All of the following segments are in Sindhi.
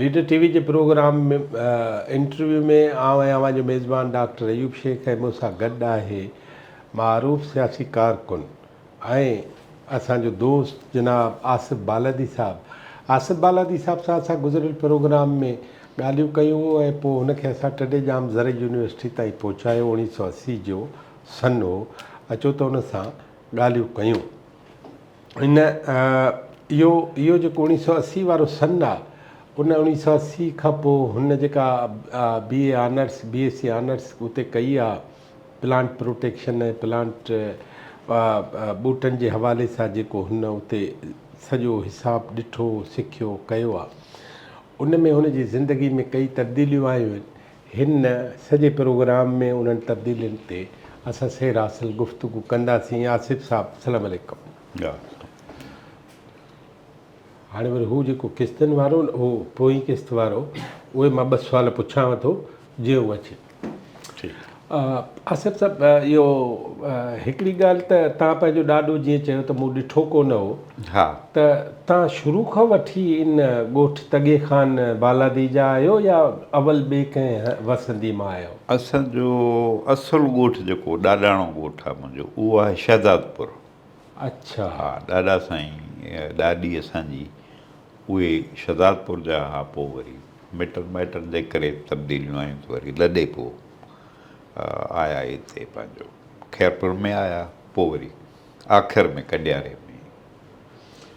ليڊر ٽي وي جي پروگرام انٽرويو ۾ آئون ۽ اوهان جو ميزبان ڊاڪٽر ايوب شيخ ۽ مون سان گڏ آهي معروف سياسي ڪارڪن ۽ اسان جو دوست جناب آصف بالادي صاحب. آصف بالادي صاحب سان اسان گذريل پروگرام ۾ ڳالهيون ڪيون ۽ پوء هن کي اسان ٽنڊي ڄام زرعي يونيورسٽي تائين پهچايو اوڻيهه سؤ اسي جو سن هو، اچو ته ان سان ڳالهيون ڪيون. ان اهو اهو جيڪو اوڻيهه سؤ اسي وارو سن آ، ان اوڻيهه سؤ اسي کان پوء هن جيڪا B A honours, B S C honours اتي ڪئي آ، پلانٽ پروٽيڪشن ۽ پلانٽ ٻوٽن جي حوالي سان جيڪو هن اتي سڄو حساب ڏٺو، سکيو، ڪيو آ. ان ۾ هن جي زندگي ۾ ڪئي تبديليون آيون آهن. هن سڄي پروگرام ۾ انهن تبديلين تي اسان سير حاصل گفتگو ڪنداسين آصف صاحب السلام عليڪم. هاڻي وري هو جيڪو قسطن وارو هو پوئين قسط وارو اهي مان ٻه سوال پڇانو ٿو جيئن هو اچي. آصف صاحب اهو هڪڙي ڳالهه ته تان پنهنجو ڏاڏو جيئن چيو ته مون ڏٺو ڪونه هو ها ته تان شروع کان وٺي ان ڳوٺ تڳي خان بالادي جا آهيو يا اول ٻي ڪنهن وسندي مان آهيو؟ اسان جو اصل ڳوٺ جيڪو ڏاڏاڻو ڳوٺ آهي منهنجو اهو آهي شهدادپور. اڇا. ها ڏاڏا سائين ڏاڏي اسان جي اهي شهدادپور جا ها پو وري مٽن مائٽن جي ڪري تبديليون آيون ته وري لڏي پو آيا هتي پنهنجو خيرپور ۾ آيا پو وري. آخر ۾ ڪڏياري ۾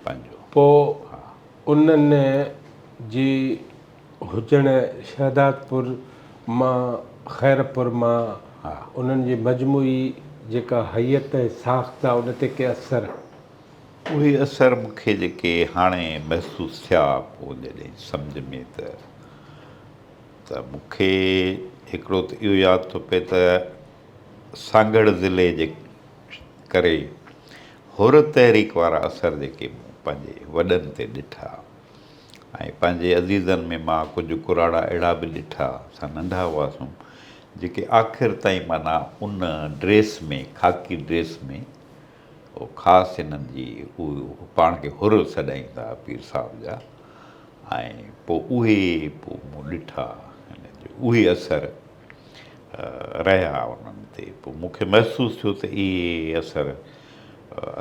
پنهنجو. پوء انهن جي هجڻ شهدادپور مان خيرپور مان انهن جي مجموعي جيڪا هيئت ۽ ساخت آ ان تي ڪي اثر؟ اهي اثر مون کي جيڪي هاڻي محسوس ٿيا پوء جڏهن سمجهه ۾ ته ته مون کي هڪڙو ته اهو ياد ٿو پئي ته سانگهڙ ضلعي جي ڪري حر تحريڪ وارا اثر جيڪي مون پنهنجي وڏن تي ڏٺا ۽ پنهنجي عزيزن ۾ مان ڪجهه ڪراڙا اهڙا به ڏٺا سا ننڍا هئاسون جيڪي آخر تائين معنيٰ ان ڊريس ۾ خاڪي ڊريس ۾ خاص انهن جي پاڻ کي حر سڏائين ٿا پير صاحب جا ۽ پوء اهي پوء مون ڏٺا اهي اثر رهيا انهن تي پوء مون کي محسوس ٿيو ته اهي اثر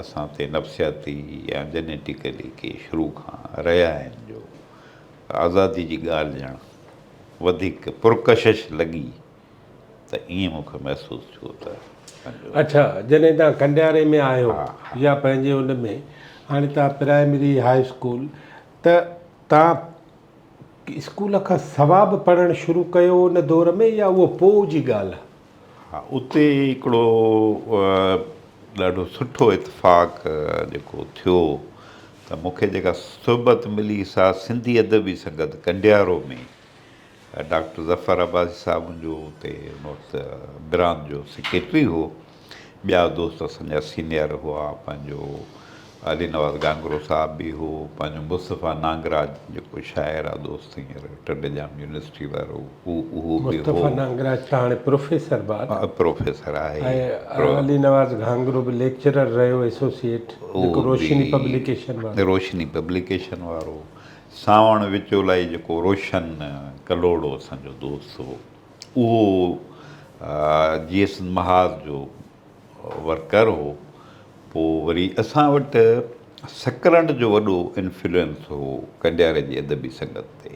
اسان تي نفسياتي يا جينيٽيڪلي ڪي شروع کان رهيا آهن جو آزادي جي ڳالهه ڄڻ وڌيڪ پرڪشش لڳي ته ائين مون کي محسوس ٿيو ته پنهنجو اڇا جڏهن توهان کنڊياري ۾ آهيو يا پنهنجي ان ۾ هاڻي توهان پرائمري هاء اسڪول ته توهان اسڪول کان سوا به پڙهڻ شروع ڪيو ان دور ۾ يا اهو پوء جي ڳالهه آهي؟ ها اتي هڪڙو ڏاڍو سٺو اتفاق جيڪو ٿيو ته مون کي جيڪا صحبت ملي سا سنڌي ادبي سنگت ڪنڊيارو ۾ ڊاڪٽر ظفر عباسي صاحب جو اتي ان وقت براند جو سيڪريٽري هو ٻيا دوست اسان جا سينيئر هئا پنهنجو علي نواز گانگرو صاحب به هو پنهنجو مصطفيٰ نانگراج جيڪو شاعر آهي دوست هينئر ٽنڊي ڄام يونيورسٽي وارو هو اهو به هو مصطفيٰ نانگراج ته هاڻي پروفيسر به آهي پروفيسر آهي ۽ علي نواز گانگرو به ليڪچرر رهيو ايسوسيئيٽ جيڪو روشني پبليڪيشن وارو روشني پبليڪيشن وارو سانوڻ وچولائي جيڪو روشن ڪلهوڙو اسان جو دوست هو اهو جي ايس محاذ جو ورڪر هو پوء وري اسان وٽ سڪرنڊ جو وڏو انفلوئنس هو ڪنڊياري جي ادبي سنگت تي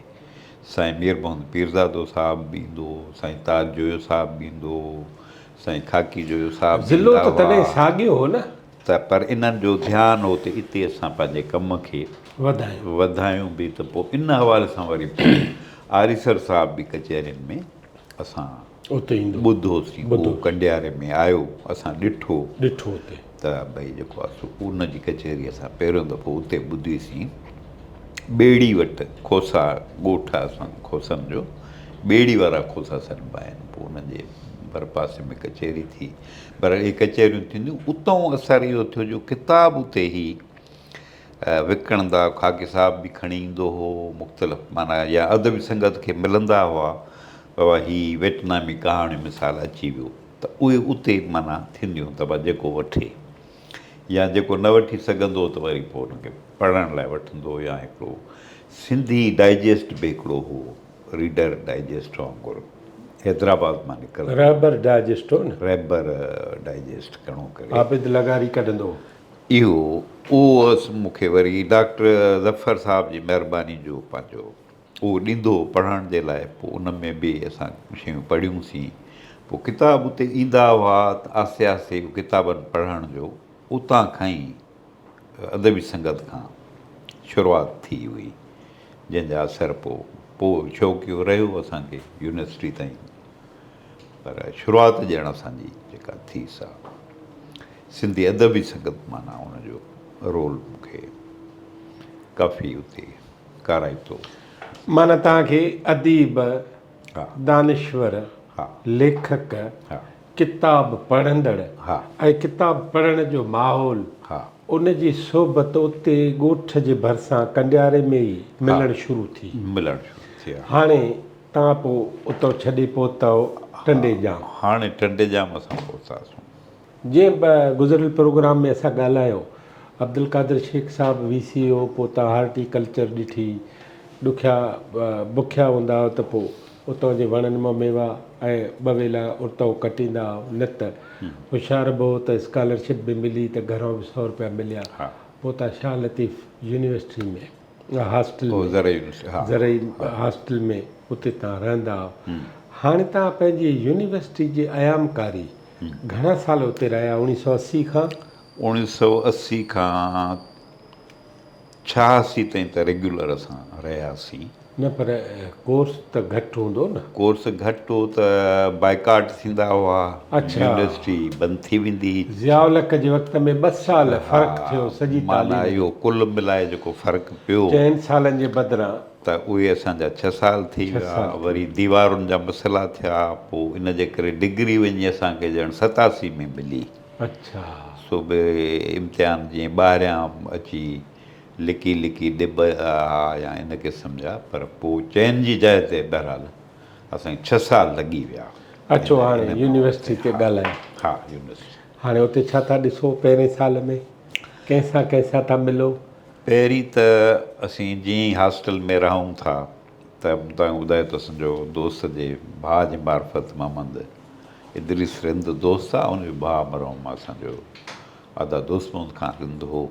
سائين مير محمد پيرزادو صاحب به ايندو هو سائين تاج جويو صاحب به ايندو هو سائين خاڪي جويو صاحب به ايندا هئا. ضلعو ته تڏهن ساڳيو هو نه؟ ته پر انهن جو ڌيان هو ته اتي اسان پنهنجي ڪم کي وڌايون به ته پوء ان حوالي سان وري آريسر صاحب به ڪچهرين ۾ اسان ٻڌوسين هو ڪنڊياري ۾ آيو اسان ڏٺو ته ڀئي جيڪو آهي سو ان جي ڪچهري اسان پهريون دفعو اتي ٻڌي سين ٻيڙي وٽ کوسا ڳوٺ آهي اسان کوسن جو ٻيڙي وارا کوسا سڏبا آهن پوء ان جي ڀرپاسي ۾ ڪچهري ٿي پر اهي ڪچهريون ٿينديون اتئون اثر اهو ٿيو جو ڪتاب اتي هي وڪڻندا خاڪي صاحب به کڻي ايندو هو مختلف معنيٰ يا ادبي سنگت کي ملندا هئا ته واه هي ويٽنامي ڪهاڻيون مثال اچي ويو ته اهي اتي معنيٰ ٿينديون ته به جيڪو وٺي يا جيڪو نه وٺي سگهندو ته وري پوء ان کي پڙهڻ لاء وٺندو يا هڪڙو سنڌي ڊائجسٽ به هڪڙو هو ريڊر ڊائجسٽ وانگر حيدرآباد مان نڪرندو رهبر ڊائجسٽ هو نه. رهبر ڊائجسٽ گهڻو ڪري. عابد لغاري ڪڍندو هو. اهو اهو هوس مون کي وري ڊاڪٽر ظفر صاحب جي مهرباني جو پنهنجو. اهو ڏيندو پڙهڻ جي لاء پوء ان ۾ به اسان شيون پڙهيون سين پوء ڪتاب اتي ايندا هئا ته آهستي آهستي اهو ڪتابن پڙهڻ جو اتان کان ئي ادبي سنگت کان شروعات ٿي هئي جنهن جا اثر پوء پوء شوق اهو رهيو اسان کي يونيورسٽي تائين پر شروعات ڄڻ اسان جي جيڪا ٿي سا سنڌي ادبي سنگت معنيٰ ان جو رول مون کي ڪافي اتي ڪارائي ٿو. معنيٰ توهان کي اديب، دانشور، ليکڪ، ڪتاب پڙهندڙ ۽ ڪتاب پڙهڻ جو ماحول، ان جي صحبت اتي ڳوٺ جي ڀرسان ڪنڊياري ۾ ئي ملڻ شروع ٿي. هاڻي توهان پوء اتو ڇڏي پهتؤ ٽنڊي ڄام. هاڻي ٽنڊي ڄام اسان پهتاسون. جيئن به گذريل پروگرام ۾ اسان ڳالهايو عبدالقادر شيخ صاحب وي سي او پوء تان هارٽي ڪلچر ڏٺي ڏکيا بکيا هوندا هئا ته پوء اتان جي وڻن مان ميوا ۽ ٻه ويلا ارتائو ڪٽيندا هئا نت هوشيار به هو ته اسڪالرشپ به ملي ته گهران به سؤ روپيا مليا پوء تان شاهه لطيف يونيورسٽي ۾ هاسٽل ۾ زرعي هاسٽل ۾ اتي تان رهندا هئا هاڻي تان پنهنجي يونيورسٽي جي ايام ڪاري گهڻا سال اتي رهيا اوڻيهه سؤ اسي کان؟ اوڻيهه سؤ اسي کان ڇهاسي تائين ته ريگيولر اسان رهياسين. نه پر ڪورس ته گهٽ هوندو نه؟ ڪورس گهٽ هو ته بائيڪاٽ ٿيندا هئا. اڇا. يونيورسٽي بند ٿي ويندي هئي. ضياء الحق جي وقت ۾ ٻه سال فرق ٿيو سڄي تعليم ۾. معنيٰ اهو ڪل ملائي جيڪو فرق پيو. چئن سالن جي بدران ته اهي اسان جا ڇهه سال ٿي ويا، وري ديوارن جا مسئلا ٿيا، پوء ان جي ڪري ڊگري وڃي اسان کي ڄڻ ستاسي ۾ ملي. سو به امتحان جيئن ٻاهريان اچي لڪي لڪي ڏبا ها يا ان قسم جا، پر پوء چئن جي جاء تي بهرحال اسان کي ڇهه سال لڳي ويا. اچو هاڻي يونيورسٽي تي ڳالهايون. ها يونيورسٽي. هاڻي اتي ڇا ٿا ڏسو پهرين سال ۾؟ ڪنهن سان ڪنهن سان ٿا ملو؟ پهرين ته اسين جيئن ئي هاسٽل ۾ رهون ٿا ته مون توهان کي ٻڌايو ته اسان جو دوست جي ڀاء جي معرفت محمد ادريس رند دوست آ ان جو ڀاء مرحوم اسان جو ادا دوست محمد خان رند هو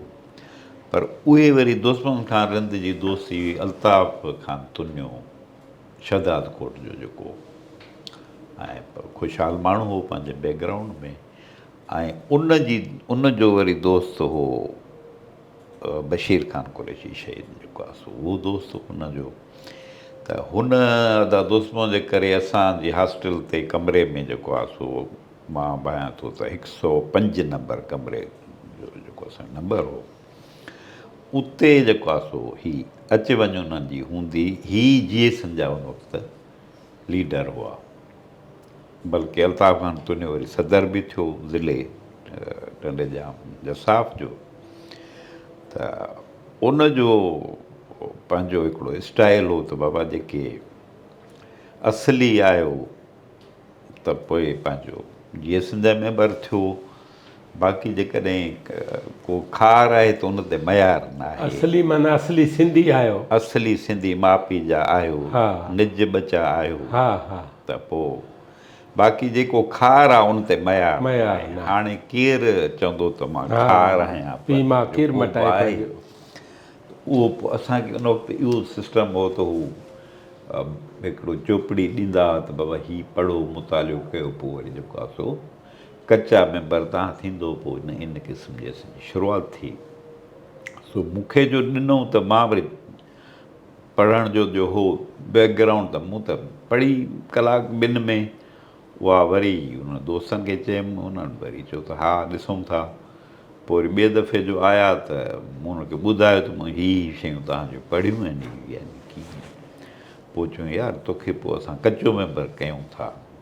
پر اهي وري دوست محمد خان رند جي دوستي هئي الطاف خان تنيو شهداد ڪوٽ جو جيڪو ۽ خوشحال ماڻهو هو پنهنجي بيڪ گرائونڊ ۾ ۽ ان جي ان جو وري دوست هو بشير خان قريشي شهيد جيڪو آهي سو اهو دوست هن جو ته هن ادا دوست مون جي ڪري اسان جي هاسٽل تي ڪمري ۾ جيڪو آهي سو مان ڀانيان ٿو ته هڪ سؤ پنج نمبر ڪمري جو جيڪو اسان نمبر هو اتي جيڪو آهي سو هي اچ وڃ انهن جي هوندي هي جي ايسن جا ان وقت ليڊر هئا بلڪه الطاف خان توني وري صدر به ٿيو ضلعي ٽنڊي ڄام جساف جو ته ان جو پنهنجو هڪڙو اسٽائل هو ته بابا جيڪي اصلي آيو ته پوء پنهنجو جيئي سنڌ جو ميمبر ٿيو باقي جيڪڏهن ڪو خار آهي ته ان تي ميار نه آهي. اصلي معنيٰ اصلي سنڌي آهيو. اصلي سنڌي ماء پيء جا آهيو. نج ٻچا آهيو. ته پوء باقي جيڪو خار آهي ان تي ميار نه آهي. هاڻي ڪير چوندو ته مان خار آهيان. پيء ماء ڪير مٽائي پنهنجو. اهو پوء اسان کي ان وقت اهو سسٽم هو ته هو هڪڙو چوپڙي ڏيندا ها ته بابا هي پڙهو مطالعو ڪيو پوء وري جيڪو آهي سو. ڪچا ميمبر تان ٿيندو پوء نه ان قسم جي اسين جي شروعات ٿي سو مون کي جو ڏنو ته مان وري پڙهڻ جو جو هو بيڪ گرائونڊ ته مون ته پڙهي ڪلاڪ ٻن ۾ اها وري انهن دوستن کي چيم انهن وري چيو ته ها ڏسون ٿا پوء وري ٻئي دفعي جو آيا ته مون انهن کي ٻڌايو ته مون هي هي شيون تهان جون پڙهيون آهن هي هي آهن ڪي پوء چيون يار توکي پوء اسان ڪچو ميمبر ڪيون ٿا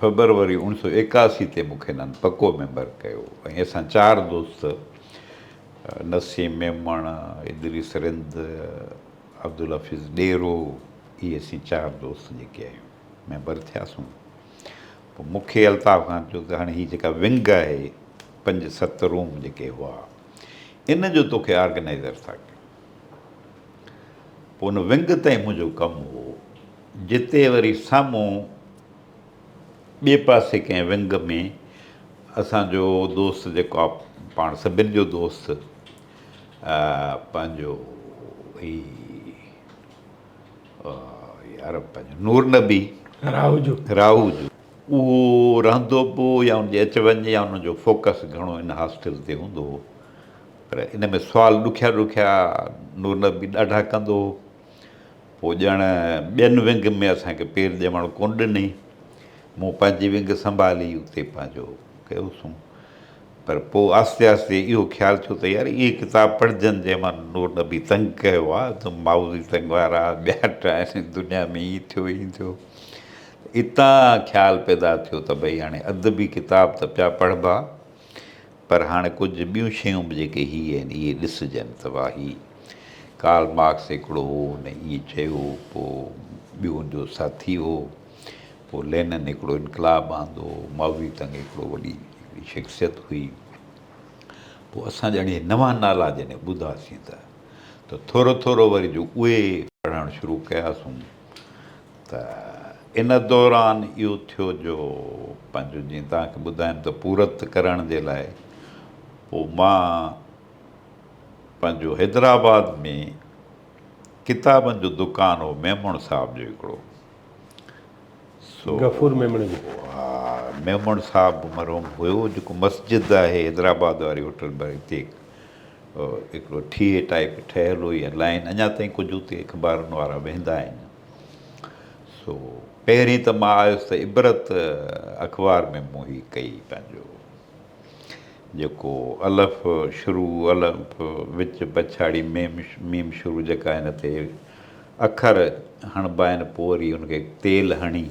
فيبروري اوڻ سؤ ايڪاسي تي مون کي انهن پڪو ميمبر ڪيو ۽ اسان چار دوست نسيم ميمڻ، ادريس رند، عبدالحفيظ ڏيرو اهي اسين چار دوست جيڪي آهيون ميمبر ٿياسون. پوء مون کي الطاف خان چيو ته هاڻي هي جيڪا ونگ آهي پنج ست روم جيڪي هئا ان جو توکي آرگنائيزر ٿا ڪيون. پوء ان ونگ تائين منهنجو ڪم هو. جتي وري سامهون ٻئي پاسي ڪنهن ونگ ۾ اسان جو دوست جيڪو آ پاڻ سڀن جو دوست پنهنجو هي يار پنهنجو نور نبي راهوجو راهوجو اهو رهندو به هو يا ان جي اچ وڃ يا ان جو فوڪس گهڻو ان هاسٽل تي هوندو هو پر ان ۾ سوال ڏکيا ڏکيا نور نبي ڏاڍا ڪندو هو پوء ڄڻ ٻين ونگ ۾ اسان کي پير ڄمڻ ڪونه ڏني. مون پنهنجي ونگ سنڀالي اتي پنهنجو ڪيو سون. پر پوء آهستي آهستي اهو خيال ٿيو ته يار اهي ڪتاب پڙهجن جنهن مان نور نبي تنگ ڪيو آهي ته مائوزي تنگ وارا ٻيا ٽائين دنيا ۾ ائين ٿيو ائين ٿيو. اتان خيال پيدا ٿيو ته ڀئي هاڻي ادبي ڪتاب ته پيا پڙهبا. پر هاڻ ڪجهه ٻيون شيون به جيڪي هي آهن اهي ڏسجن ته واهي ڪارل مارڪس هڪڙو هو هن ائين چيو پوء ٻيو هن جو ساٿي هو پوء لينن هڪڙو انقلاب آندو ماوزي تنگ هڪڙو وڏي هڪڙي شخصيت هئي پوء اسان ڄڻ اهي نوان نالا جڏهن ٻڌاسين ته ته ٿورو ٿورو وري جو اهي پڙهڻ شروع ڪياسون ته ان دوران اهو ٿيو جو پنهنجو جيئن توهان کي ٻڌايم ته پورت ڪرڻ جي لاء پوء مان پنهنجو حيدرآباد ۾ ڪتابن جو دڪان هو ميمڻ صاحب جو هڪڙو سو غفور ميمڻ جو ها ميمڻ صاحب مرحوم هيو جيڪو مسجد آهي حيدرآباد واري هوٽل ۾ هتي هڪڙو ٺيهي ٽائيپ ٺهيل هو يا لائين اڃا تائين ڪجهه اتي اخبارن وارا ويهندا آهن سو پهرين ته مان آيس ته عبرت اخبار ۾ مون هي ڪئي پنهنجو جيڪو الف شروع الف وچ پڇاڙي ميم ميم شروع جيڪا هن تي اکر هڻبا آهن پوء وري ان کي تيل هڻي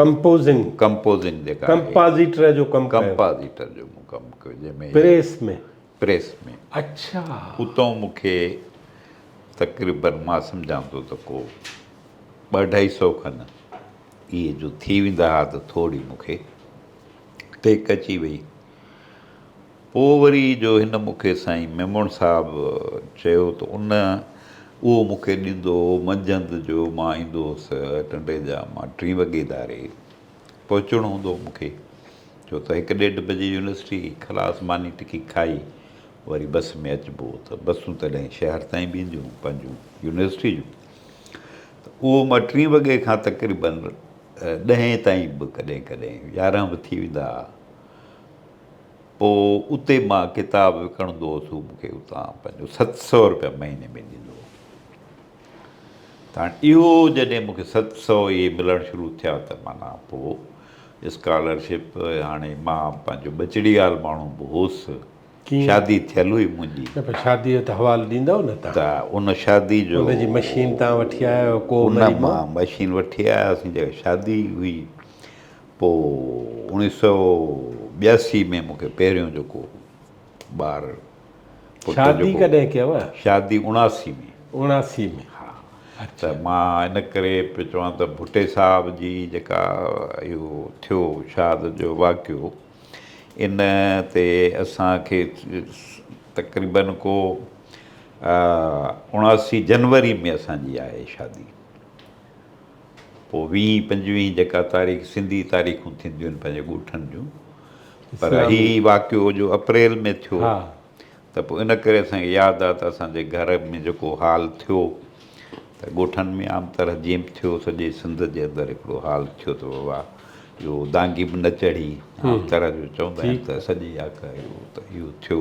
ڪمپوزنگ ڪمپوزنگ جيڪا آهي ڪمپازيٽر جو ڪم ڪيو ڪمپازيٽر جو مون ڪم ڪيو جنهن ۾ پريس ۾ پريس ۾. اڇا. اتئون مون کي تقريباً مان سمجهان ٿو ته ڪو ٻه اڍائي سئو کن اهي جو ٿي ويندا ها ته ٿورڙي مون کي ٽيڪ اچي وئي. پوء وري جو هن مون کي سائين ميمڻ صاحب چيو ته ان اهو مون کي ڏيندو هو منجهند جو مان ايندو هوس ٽنڊي جا مان ٽين وڳي ڌاري پهچڻو هوندو هو مون کي. ڇو ته هڪ ڏيڍ بجي يونيورسٽي خلاص ماني ٽڪي کائي وري بس ۾ اچبو هو ته بسون تڏهن شهر تائين به اينديون هيون پنهنجون يونيورسٽي جون ته اهو مان ٽين وڳي کان تقريباً ڏهين تائين به ڪڏهن ڪڏهن يارهن به ٿي ويندا هئا پوء اتي مان ڪتاب وڪڻندو هوس هو مون کي اتان پنهنجو ست سؤ روپيا مهيني ۾ ڏيندو هو تان اهو جڏهن مون کي ست سؤ اهي ملڻ شروع ٿيا ته معنيٰ پوء اسڪالرشپ هاڻي مان پنهنجو ٻچڙيال ماڻهو به هوس شادي ٿيل هئي منهنجي. نه پر شادي جو ته حوالو ڏيندؤ نه تان. ته ان شادي جو. ان جي مشين تان وٺي آيا هيو ڪو مري مئو. ان مان مشين وٺي آياسين جيڪا شادي هئي پوء اوڻيهه سؤ ٻياسي ۾ مون کي پهريون جيڪو ٻار شادي ڪڏهن ڪيو؟ شادي اڻاسي ۾. اڻاسي ۾. ها. اچا. ته مان ان ڪري پيو چوان ته ڀٽي صاحب جي جيڪا اهو ٿيو شهادت جو واقعو ان تي اسان کي تقريباً ڪو اڻاسي جنوري ۾ اسان جي آهي شادي. پوء ويهين پنجويهين جيڪا تاريخ سنڌي تاريخون ٿينديون آهن پنهنجي ڳوٺن جون پر هي واقعو جو اپريل ۾ ٿيو ته پوء ان ڪري اسان کي ياد آهي ته اسان جي گهر ۾ جيڪو حال ٿيو ته ڳوٺن ۾ عام طرح جيئن به ٿيو سڄي سنڌ جي اندر هڪڙو حال ٿيو ته بابا اهو دانگي به نه چڙهي عام طرح جو چوندا آهن ته سڄي آڪهه اهو ته اهو ٿيو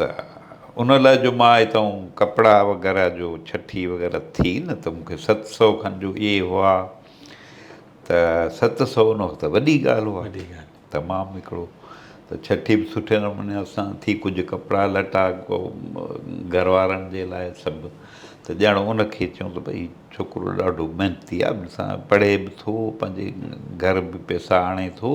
ته ان لاء جو مان هتئون ڪپڙا وغيره جو ڇٺي وغيره ٿي نه ته مون کي ست سو کن جو اهي هئا ته ست سو ان وقت وڏي ڳالهه هئا وڏي ڳالهه تمام هڪڙو ته ڇٺي به سٺي نموني اسان ٿي ڪجهه ڪپڙا لٽا گهر وارن جي لاء سڀ ته ڄڻ ان کي چيون ته ڀئي ڇوڪرو ڏاڍو محنتي آهي پڙهي به ٿو پنهنجي گهر به پيسا آڻي ٿو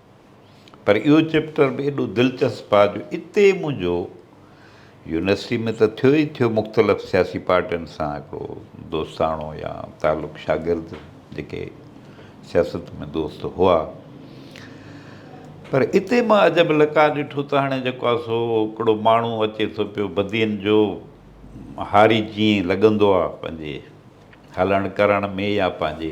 پر اهو چيپٽر به ايڏو دلچسپ آ جو اتي منهنجو يونيورسٽي ۾ ته ٿيو ئي ٿيو مختلف سياسي پارٽين سان هڪڙو دوستاڻو يا تعلق شاگرد جيڪي سياست ۾ دوست هئا پر اتي مان عجب لقاء ڏٺو ته هاڻي جيڪو آ سو هڪڙو ماڻهو اچي ٿو پيو بدين جو هاري جيئن لڳندو آ پنهنجي هلڻ ڪرڻ ۾ يا پنهنجي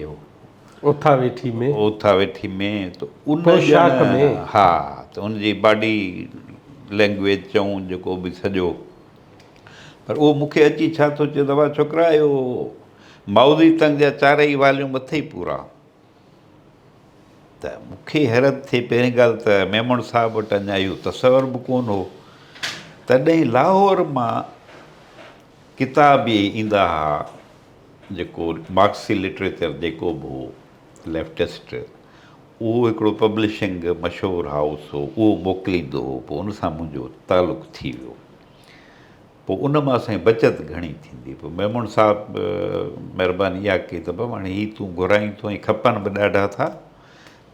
اوٿا ويٺي ۾. اوٿا ويٺي ۾، ته ان پوشاڪ ۾. ها، ته ان جي باڊي لئنگويج چئون جيڪو به سڄو، پر اهو مون کي اچي ڇا ٿو چئي ته واء ڇوڪرا اهو مائوزي تنگ جا چارئي واليوم اٿئي پورا. ته مون کي حيرت ٿئي پهرين ڳالهه ته ميمڻ صاحب وٽ اڃا اهو تصور به ڪونه هو. تڏهن لاهور مان. ڪتاب به ايندا ها جيڪو مارڪسي لٽريچر جيڪو به هو ليفٽسٽ اهو هڪڙو پبلشنگ مشهور هائوس هو اهو موڪليندو هو پوء ان سان منهنجو تعلق ٿي ويو پوء ان مان اسان جي بچت گهڻي ٿيندي پوء ميمڻ صاحب مهرباني اها ڪئي ته بابا هاڻي هي تون گهرائين ٿو ۽ کپن به ڏاڍا ٿا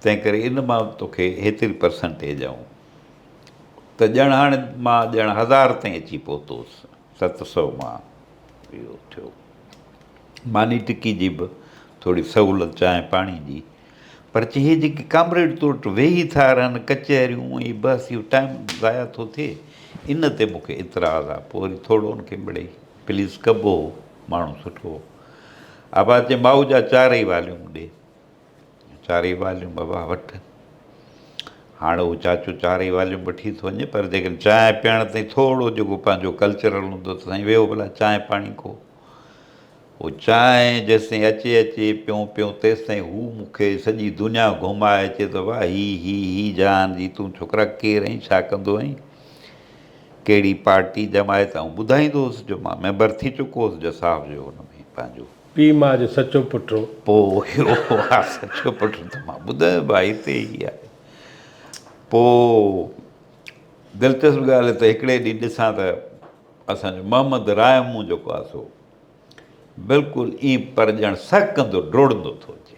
تنهن ڪري ان مان توکي هيتري پرسنٽيج آئون ته ڄڻ هاڻي مان ڄڻ هزار تائين اچي پهتوس ست سؤ مان اهو ٿيو. ماني ٽڪي جي به ٿوري سهولت چانهه پاڻي جي پر چهي جيڪي ڪامريڊ تو وٽ ويهي ٿا رهن ڪچهريون ۽ بس اهو ٽائيم ضايع ٿو ٿئي ان تي مون کي اعتراض آ پوء وري ٿورڙو ان کي مڙئي پليس ڪبو هو ماڻهو سٺو هو آباد چي مائو جا چار ئي واليون مون ڏي چارئي واليون بابا وٺ. هاڻ هو چاچو چارئي واليون وٺي ٿو وڃي پر جيڪڏهن چانهه پيئڻ تائين ٿورو جيڪو پنهنجو ڪلچرل هوندو ته سائين ويهو ڀلا چانهه پاڻي ڪو. هو چانهه جيستائين اچي اچي پيئون پيئون تيستائين هو مون کي سڄي دنيا گهمائي چئي ته واهه هي هي هي جهان جي تون ڇوڪرا ڪير آهين ڇا ڪندو آهين ڪهڙي پارٽي جماعت آئون ٻڌائيندو هوس جو مان ميمبر ٿي چڪو هوس جساف جو ان ۾ پنهنجو پيء ماء جو سچو پٽ هو. پوء اهو آ سچو پٽ ته مان ٻڌايو ڀاء هتي ئي آهي. پوء دلچسپ ڳالهه ته هڪڙي ڏينهن ڏسان ته اسان جو محمد رائي مون جيڪو آ سو بلڪل ائين پرڄڻ سهڪندو ڊوڙندو ٿو اچي.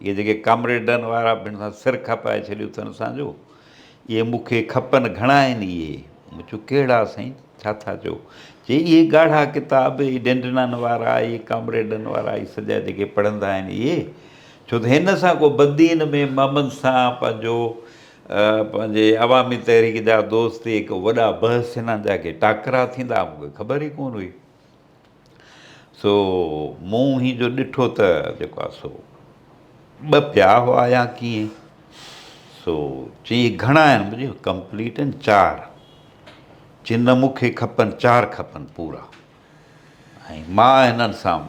اهي جيڪي ڪامريڊن وارا به ان سان سر کپائي ڇڏيو اٿن اسان جو، اهي مون کي کپن گهڻا آهن اهي. مون چيو ڪهڙا سائين، ڇا ٿا چئو؟ چي اهي ڳاڙها ڪتاب، اهي ڊنڊنان وارا، اهي ڪامريڊن وارا، اهي سڄا جيڪي پڙهندا آهن اهي. ڇو ته هن سان ڪو بدين ۾ محمد سان پنهنجو پنهنجي عوامي تحريڪ جا دوست اهي ڪو وڏا بحث ٿيندا جا ڪي ٽاڪرا ٿيندا مون کي خبر ئي ڪونه هئي. سو مون هي جو ڏٺو ته جيڪو آهي سو ٻه پيا هئا يا ڪيئن سو چي گهڻا آهن مون چيو ڪمپليٽ آهن چار چي نه مون کي کپن چار کپن پورا ۽ مان هنن سان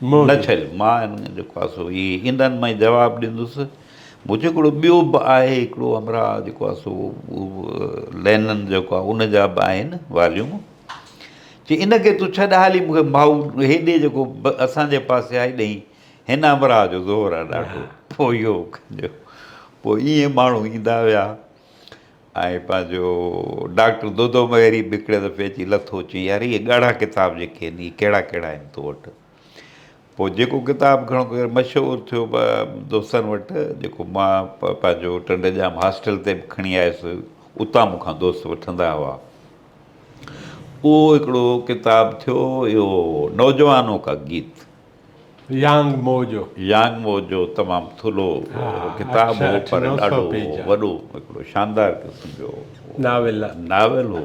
نه ڇل مان جيڪو آهي سو هي انهن ۾ جواب ڏيندس مون چيو هڪڙو ٻيو به آهي هڪڙو همراهه جيڪو آهي سو لينن جيڪو آهي ان جا به آهن واليوم چي ان کي تون ڇڏ ها علي مون کي مائو هيڏي جيڪو اسان جي پاسي آهي ڏئين هن امراء جو زور آهي ڏاڍو پوء اهو ڪجو پوء ائين ماڻهو ايندا ويا ۽ پنهنجو ڊاڪٽر دودو مهيري به هڪڙي دفعي اچي لٿو چي يار اهي ڳاڙها ڪتاب جيڪي آهن اهي ڪهڙا ڪهڙا آهن تو وٽ پوء جيڪو ڪتاب گهڻو ڪري مشهور ٿيو دوستن وٽ جيڪو مان پنهنجو ٽنڊ ڄام هاسٽل تي به کڻي آيس اتان مون کان دوست وٺندا هئا اهو هڪڙو ڪتاب ٿيو اهو نوجوانو ڪا گيت يانگ مو جو يانگ مو جو تمام ٿلهو ڪتاب هو پر ڏاڍو وڏو هڪڙو شاندار قسم جو ناول ناول هو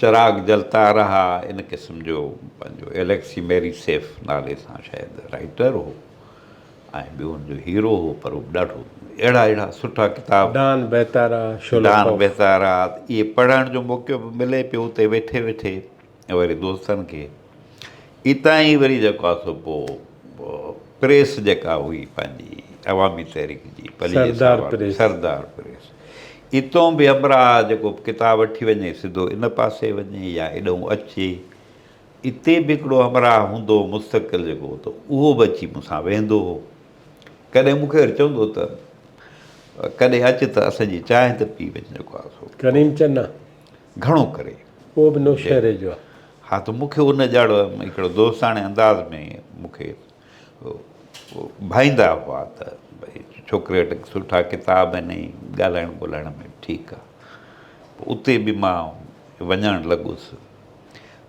چراغ جلتا رها ان قسم جو پنهنجو اليڪسي ميري سيف نالي سان شايد رائيٽر هو ۽ ٻيو هن جو هيرو هو پر هو به ڏاڍو اهڙا اهڙا سٺا ڪتاب ڊان بيتارا شولوڪوف ڊان بيتارا اهي پڙهڻ جو موقعو به ملي پيو اتي ويٺي ويٺي وري دوستن کي اتان ئي وري جيڪو آهي سو پوء پريس جيڪا هئي پنهنجي عوامي تحريڪ جي سردار پريس سردار پريس اتون به همراهه جيڪو ڪتاب وٺي وڃي سڌو ان پاسي وڃي يا ايڏهون اچي اتي به هڪڙو همراهه هوندو هو مستقل جيڪو ته اهو به اچي مون سان ويهندو هو ڪڏهن مون کي وري چوندو هو ته ڪڏهن اچ ته اسان جي چانهه ته پي وڃ جيڪو آهي سو ڪريم چنا گهڻو ڪري. اهو به نوشهري جو آهي. ها ته مون کي ان جهڙو هڪڙو دوستاڻي انداز ۾ مون کي ڀائيندا هئا ته ڀئي ڇوڪري وٽ سٺا ڪتاب آهن ۽ ڳالهائڻ ٻولهائڻ ۾ ٺيڪ آهي. پوء اتي به مان وڃڻ لڳس.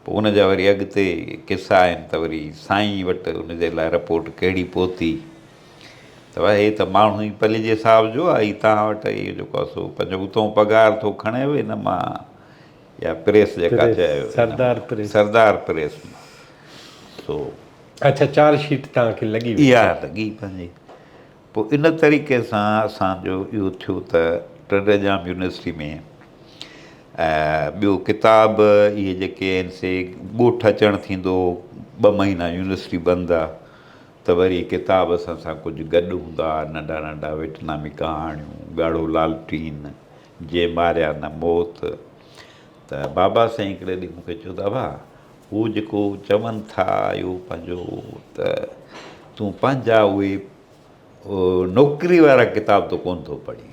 پوء ان جا وري اڳتي قصا آهن ته وري سائين وٽ ان جي لاء رپورٽ ڪهڙي پهتي. ته واه هي ته ماڻهو ئي پليجي حساب جو آ هي توهان وٽ اهو جيڪو آ سو پنهنجو اتهون پگهار ٿو کڻي وي نه مان يا پريس جيڪا چيو سردار پريس سردار پريس مان سو اڇا چارج شيٽ توهان کي لڳي وئي اها لڳي پنهنجي پوء ان طريقي سان اسان جو اهو ٿيو ته ٽنڊيڄام يونيورسٽي ۾ ٻيو ڪتاب اهي جيڪي آهن سي ڳوٺ اچڻ ٿيندو ٻه مهينا يونيورسٽي بند آ ته وري ڪتاب اسان سان ڪجهه گڏ هوندا، ننڍا ننڍا ويٽنامي ڪهاڻيون، ڳاڙهو لالٽين، جنهن ماريا نه موت. ته بابا سائين هڪڙي ڏينهن مون کي چيو ته ابا هو جيڪو چون ٿا اهو پنهنجو ته تون پنهنجا اهي نوڪري وارا ڪتاب ته ڪونه ٿو پڙهين.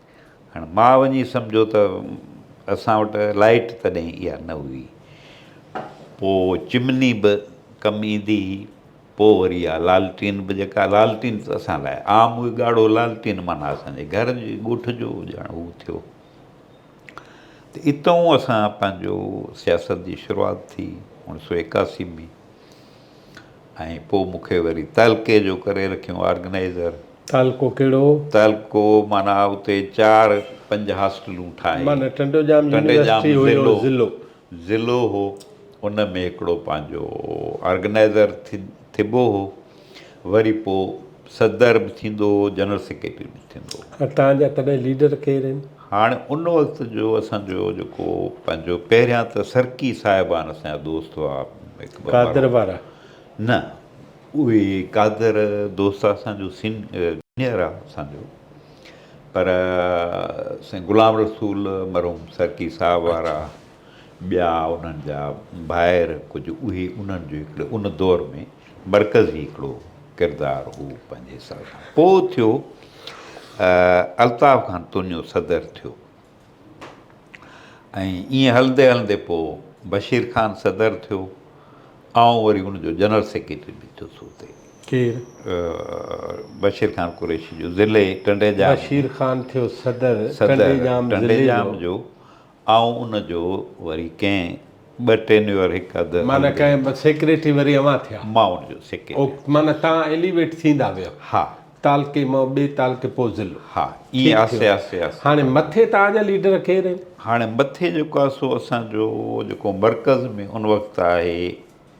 هاڻ مان وڃي سمجهيو ته اسان وٽ لائيٽ تڏهن اها نه هئي پوء چمني به ڪم ايندي هئي پوء وري اها لالٽين به جيڪا لالٽين ته اسان لاء عام هئي ڳاڙهو لالٽين معنيٰ اسان جي گهر جي ڳوٺ جو ڄڻ هو ٿيو ته اتئون اسان پنهنجو سياست جي شروعات ٿي اوڻيھ سؤ ايڪاسي ۾ ۽ پوء مون کي وري تعلقي جو ڪري رکيون آرگنائيزر. تعلقو ڪهڙو؟ تعلقو معنيٰ اتي چار پنج هاسٽلون ٺاهي. معنيٰ ٽنڊو ڄام يونيورسٽي هيو ضلعو. ضلعو هو ان ۾ هڪڙو پنهنجو آرگنائيزر ٿبو هو وري پوء صدر به ٿيندو هو جنرل سيڪريٽري به ٿيندو هو. تنهنجا تڏهن ليڊر ڪير هين؟ هاڻ ان وقت جو اسان جو جيڪو پنهنجو پهريان ته سرڪي صاحبان اسان جا دوست هئا هڪ ٻه قادر وارا نه اهي قادر دوست اسان جو سين جونيئر آهي اسان جو پر سائين غلام رسول مرحوم سرڪي صاحب وارا ٻيا انهن جا ڀائر ڪجهه اهي انهن جو هڪڙي ان دور ۾ مرڪزي هڪڙو ڪردار هو پنهنجي حساب سان پوء ٿيو الطاف خان تونيو صدر ٿيو ۽ ايئن هلندي هلندي پوء بشير خان صدر ٿيو آئون وري ان جو جنرل سيڪريٽري به ٿيس اتي ڪير بشير خان قريشي جو ضلعي ٽنڊي ڄام بشير خان ٿيو صدر صدر ٽنڊي ڄام جو آئون ان جو وري ڪنهن ٻه ٽينيور هڪ اڌ هل معنيٰ ڪنهن ٻه سيڪريٽري وري اوهان ٿيا. مان ان جو سيڪريٽري. او معنيٰ تان ايليويٽ ٿيندا ويا. ها. تعلقي مان ٻي تعلقي پوء ضلعو. ها ائين ٺيڪ آهستي ٿيو. آهستي آهستي. هاڻي مٿي تان جا ليڊر ڪير آهن؟ هاڻي مٿي جيڪو آهي سو اسان جو جيڪو مرڪز ۾ ان وقت آهي.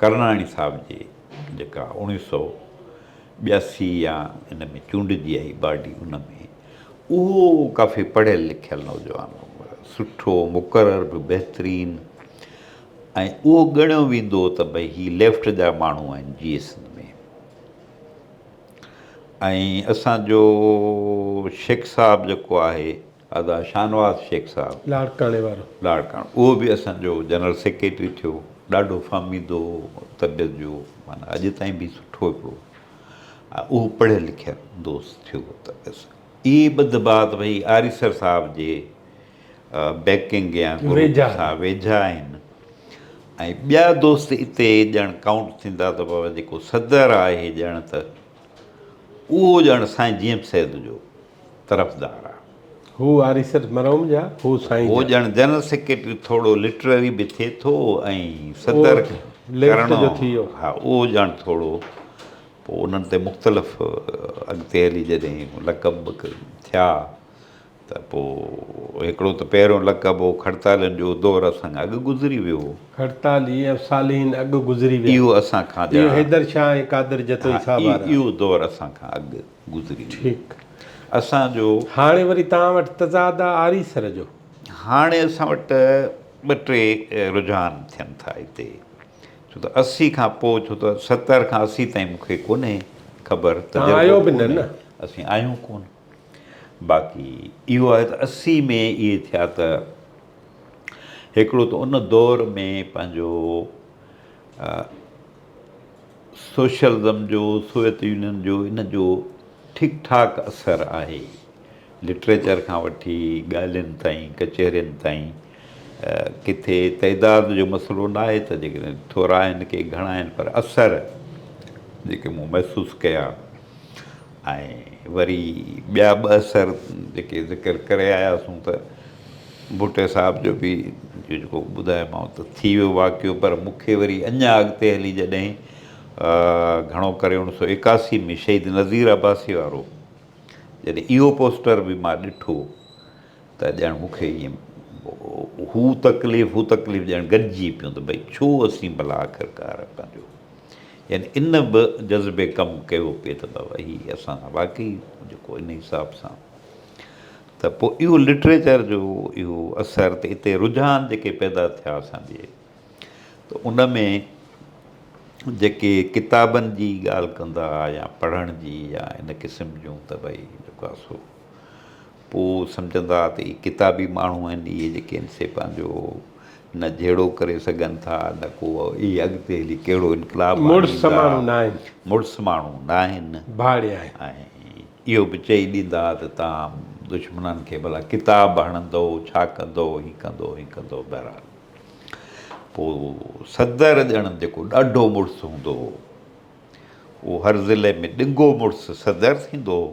ڪرناڻي صاحب جي جيڪا اوڻيهه سؤ ٻياسي يا ان ۾ چونڊجي آئي باڊي ان ۾ اهو ڪافي پڙهيل لکيل نوجوان هو سٺو مقرر به بهترين ۽ اهو ڳڻيو ويندو ته ڀئي هي ليفٽ جا ماڻهو آهن جي ايس اين ۾ ۽ اسانجو شيخ صاحب جيڪو آهي ادا شاهنواز شيخ صاحب لاڙڪاڻي وارو. لاڙڪاڻو اهو به اسان جو جنرل سيڪريٽري ٿيو ڏاڍو فهميدو طبيعت جو معنيٰ اڄ تائين به سٺو هڪڙو اهو پڙهيل لکيل دوست ٿيو ته بس اي ٻڌ بات ڀئي آريسر صاحب جي بيڪنگ يا ويجها سان ويجها آهن ۽ ٻيا دوست اتي ڄڻ ڪائونٽ ٿيندا ته بابا جيڪو صدر آهي ڄڻ ته اهو ڄڻ سائين جي ايم سيد جو طرفدار آ. هو آريسر مرحوم جا، هو سائين جا. هو ڄڻ جنرل سيڪريٽري ٿورڙو لٽرري به ٿئي ٿو ۽ صدر ڪرڻو ها اهو ڄڻ ٿورڙو پوء انهن تي مختلف اڳتي هلي جڏهن لقب به ٿيا ته پوء هڪڙو ته پهريون لقب هو کڙتالين جو دور اسان کان اڳ گذري ويو هو. کڙتالي ۽ صالحين اڳ گذري ويا. اهو اسان کان ڄڻ اهو حيدر شاهه ۽ قادر جتوئي صاحب وارا. اهو دور اسان کان اڳ گذري ويو. ٺيڪ. اسان جو. هاڻي وري توهان وٽ تضاد آ آري سر جو. هاڻي اسان وٽ ٻه ٽي رجحان ٿين ٿا هتي ڇو ته اسي کان پوء ڇو ته ستر کان اسي تائين مون کي ڪونهي خبر توهان آهيو به نه نه. اسين آهيون ڪونه باقي اهو آهي ته اسي ۾ اهي ٿيا ته هڪڙو ته ان دور ۾ پنهنجو سوشلزم جو، سوويت يونين جو ان جو ٺيڪ ٺاڪ اثر آهي. لٽريچر کان وٺي ڳالهين تائين، ڪچهرين تائين. ڪٿي تعداد جو مسئلو نه آهي ته جيڪڏهن ٿورا آهن ڪي گهڻا آهن پر اثر جيڪي مون محسوس ڪيا. ۽ وري ٻيا ٻه اثر جيڪي ذڪر ڪري آياسون ته ڀٽي صاحب جو به جيڪو ٻڌايومانو ته ٿي ويو واقعو پر مون کي وري اڃا اڳتي هلي جڏهن گهڻو ڪري اوڻ سو ايڪاسي ۾ شهيد نظير عباسي وارو جڏهن اهو پوسٽر به مان ڏٺو ته ڄڻ مون کي ائين هو تڪليف هو تڪليف ڄڻ گڏجي پيون ته ڀئي ڇو اسين ڀلا آخرڪار پنهنجو يعني ان به جذبي ڪم ڪيو پئي ته بابا هي اسان سان واقعي جيڪو ان حساب سان ته پوء اهو لٽريچر جو اهو اثر ته اتي رجحان جيڪي پيدا ٿيا اسان جي ته ان ۾ جيڪي ڪتابن جي ڳالهه ڪندا يا پڙهڻ جي يا ان قسم جون ته ڀئي جيڪو آسو پوء سمجهندا ته اهي ڪتابي ماڻهو آهن، اهي جيڪي آهن سي پنهنجو نه جهيڙو ڪري سگهن ٿا، نه ڪو اهي اڳتي هلي ڪهڙو انقلاب آڻيندا، مڙس ماڻهو نه آهن، ۽ اهو به چئي ڏيندا ته تان دشمنن کي ڀلا ڪتاب هڻندؤ، ڇا ڪندؤ، هي ڪندؤ، هي ڪندؤ، بهرحال پوء صدر ڄڻ جيڪو ڏاڍو مڙس هوندو هو، اهو هر ضلعي ۾ ڏنگو مڙس صدر ٿيندو هو.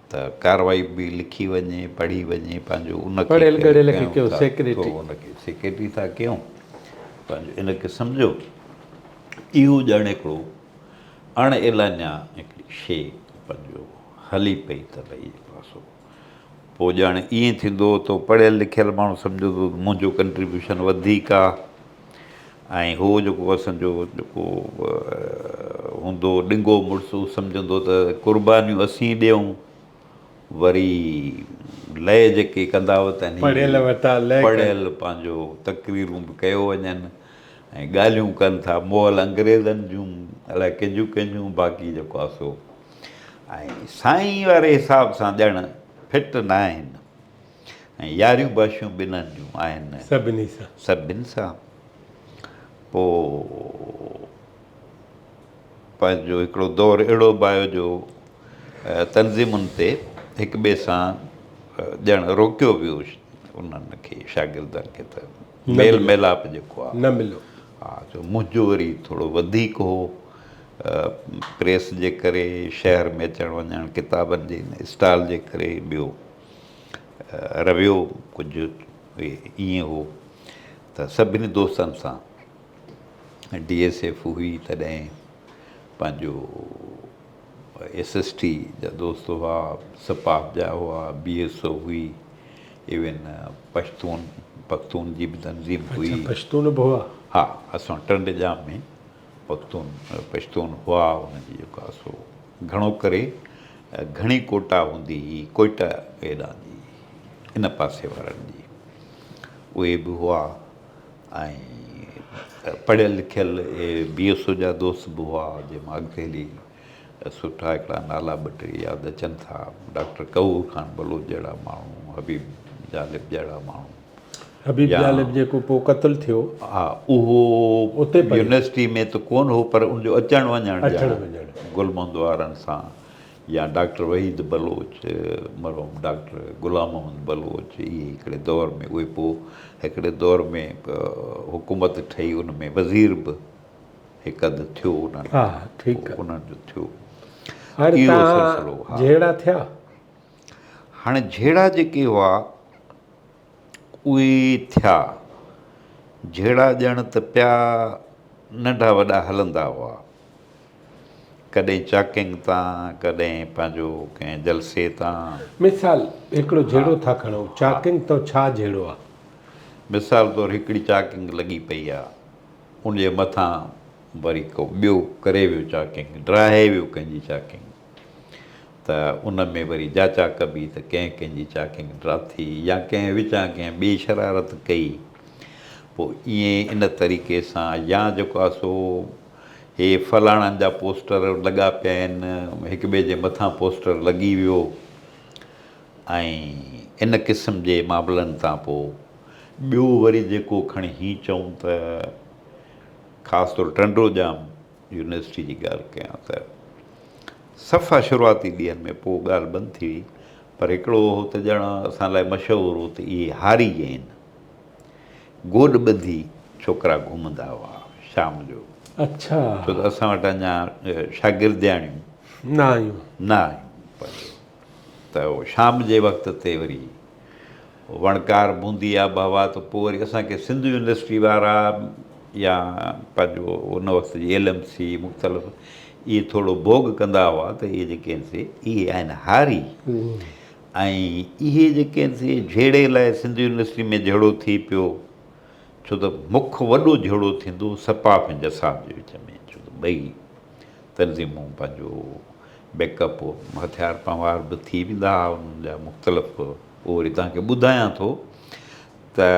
ته ڪارروائي به لکي وڃي پڙهي وڃي پنهنجو ان پڙهيل ڳڙهيل کي ڪيو سيڪريٽري. ان کي سيڪريٽري ٿا ڪيون پنهنجو ان کي سمجهو اهو ڄڻ هڪڙو اڻ اعلانيا هڪڙي شي پنهنجو هلي پئي تباهي جي پاسو پوء ڄڻ ائين ٿيندو هو ته پڙهيل لکيل ماڻهو سمجهندو هو ته منهنجو ڪنٽريبيوشن وڌيڪ آ. ۽ هو جيڪو اسان جو جيڪو هوندو ڏنگو مڙس هو سمجهندو ته قربانيون اسين ڏيئون وري لئه جيڪي ڪندا وتن پڙهيل وتا لئه پڙهيل پنهنجو تقريرون به ڪيو وڃن ۽ ڳالهيون ڪن ٿا مئل انگريزن جون الاء ڪنهن جون ڪنهن جون باقي جيڪو آهي سو ۽ سائين واري حساب سان ڄڻ فٽ ناهن ۽ ياريون باشيون ٻنهن جون آهن. سڀني سان. سڀني سان. پوء پنهنجو هڪڙو دور اهڙو به آيو جو تنظيمن تي هڪ ٻئي سان ڄڻ روڪيو ويو انهن کي شاگردن کي ته ميل ميلاپ جيڪو آهي. نه مليو. ها جو منهنجو وري ٿورو وڌيڪ هو پريس جي ڪري شهر ۾ اچڻ وڃڻ ڪتابن جي اسٽال جي ڪري ٻيو رويو ڪجهه ائين هو ته سڀني دوستن سان ڊي ايس ايف هئي تڏهن پنهنجو ايس ايس ٽي جا دوست هئا سپاهه جا هئا بي ايس او هئي ايون پشتون پختون جي به تنظيم هئي اڇا پشتون به هئا ها اسان ٽنڊ ڄام ۾ پختون پشتون هئا انهن جي جيڪا سو گهڻو ڪري گهڻي ڪوٽا هوندي هئي ڪوئٽه هيڏانهن جي ان پاسي وارن جي اهي به هئا ۽ پڙهيل لکيل اهي بي ايس او جا دوست به هئا جنهن مان اڳتي هلي سٺا هڪڙا نالا ٻه ٽي ياد اچن ٿا، ڊاڪٽر قهور خان بلوچ جهڙا ماڻهو، حبيب جالب جهڙا ماڻهو. حبيب جالب جيڪو پوء قتل ٿيو. ها اهو يونيورسٽي ۾ ته ڪونه هو پر ان جو اچڻ وڃڻ ڄڻ گل محمد وارن سان يا ڊاڪٽر وحيد بلوچ، مرحوم ڊاڪٽر غلام محمد بلوچ اهي هڪڙي دور ۾ اهي پوء هڪڙي دور ۾ حڪومت ٺهي ان ۾ وزير به. هڪ اڌ ٿيو انهن ها ٺيڪ آ انهن جو ٿيو هر اهو تان سلسلو ها جهيڙا ٿيا هاڻي جهيڙا جيڪي هئا اهي ٿيا جهيڙا ڄڻ ته پيا ننڍا وڏا هلندا هئا ڪڏهن چاڪنگ تان ڪڏهن پنهنجو ڪنهن جلسي تان مثال هڪڙو ها جهيڙو ٿا کڻون ها چاڪنگ تان ڇا جهيڙو آ مثال طور هڪڙي چاڪنگ لڳي پئي آ ان جي مٿان وري ڪو ٻيو ڪري ويو چاڪنگ، ڊاهي ويو ڪنهن جي چاڪنگ ته ان ۾ وري جاچا ڪبي ته ڪنهن ڪنهن جي چاڪنگ ڊاٿي يا ڪنهن وچان ڪنهن ٻي شرارت ڪئي پوء ائين ان طريقي سان يا جيڪو آهي سو هي فلاڻن جا پوسٽر لڳا پيا آهن هڪ ٻئي جي مٿان پوسٽر لڳي ويو ۽ ان قسم جي معاملن تان پوء ٻيو وري جيڪو کڻي هيئن چئون ته خاص طور ٽنڊوڄام يونيورسٽي جي ڳالهه ڪيان ته صفا شروعاتي ڏينهن ۾ پوء ڳالهه بند ٿي وئي پر هڪڙو اهو ته ڄڻ اسان لاء مشهور هو ته اهي هاري جين گوڏ ٻڌي ڇوڪرا گهمندا هئا شام جو اڇا ڇو ته اسان وٽ اڃا شاگردياڻيون نه آيون نه آيون ته شام جي وقت تي وري وڻڪار بوندي آبهوا ته پوء وري اسان کي سنڌ يونيورسٽي وارا يا پنهنجو ان وقت جي ايل ايم سي مختلف اهي ٿورو ڀوڳ ڪندا هئا ته اهي جيڪي آهن سي اهي آهن هاري ۽ اهي جيڪي آهن سي جهيڙي لاء سنڌ يونيورسٽي ۾ جهيڙو ٿي پيو ڇو ته مک وڏو جهيڙو ٿيندو سپاف ۽ جساف جي وچ ۾ ڇو ته ٻئي تنظيمون پنهنجو بيڪ اپ هٿيار پنهوار به ٿي ويندا هئا انهن جا مختلف اهو وري تنهن کي ٻڌايان ٿو ته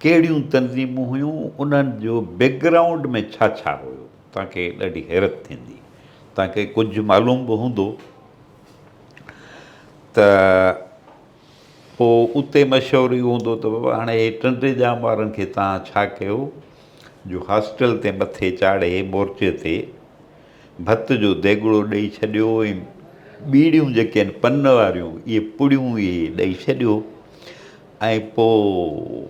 ڪهڙيون تنظيمون هيون انهن جو بيڪ گرائونڊ ۾ ڇا ڇا هيو تنهن کي ڏاڍي حيرت ٿيندي تنهن کي ڪجهه معلوم به هوندو ته پوء اتي مشورو اهو هوندو ته بابا هاڻي هي ٽن ٽي ڄام وارن کي توهان ڇا ڪيو جو هاسٽل تي مٿي چاڙهي مورچي تي ڀت جو ديڳڙو ڏئي ڇڏيو ۽ ٻيڙيون جيڪي آهن پن واريون اهي پڙيون اهي ڏئي ڇڏيو ۽ پوء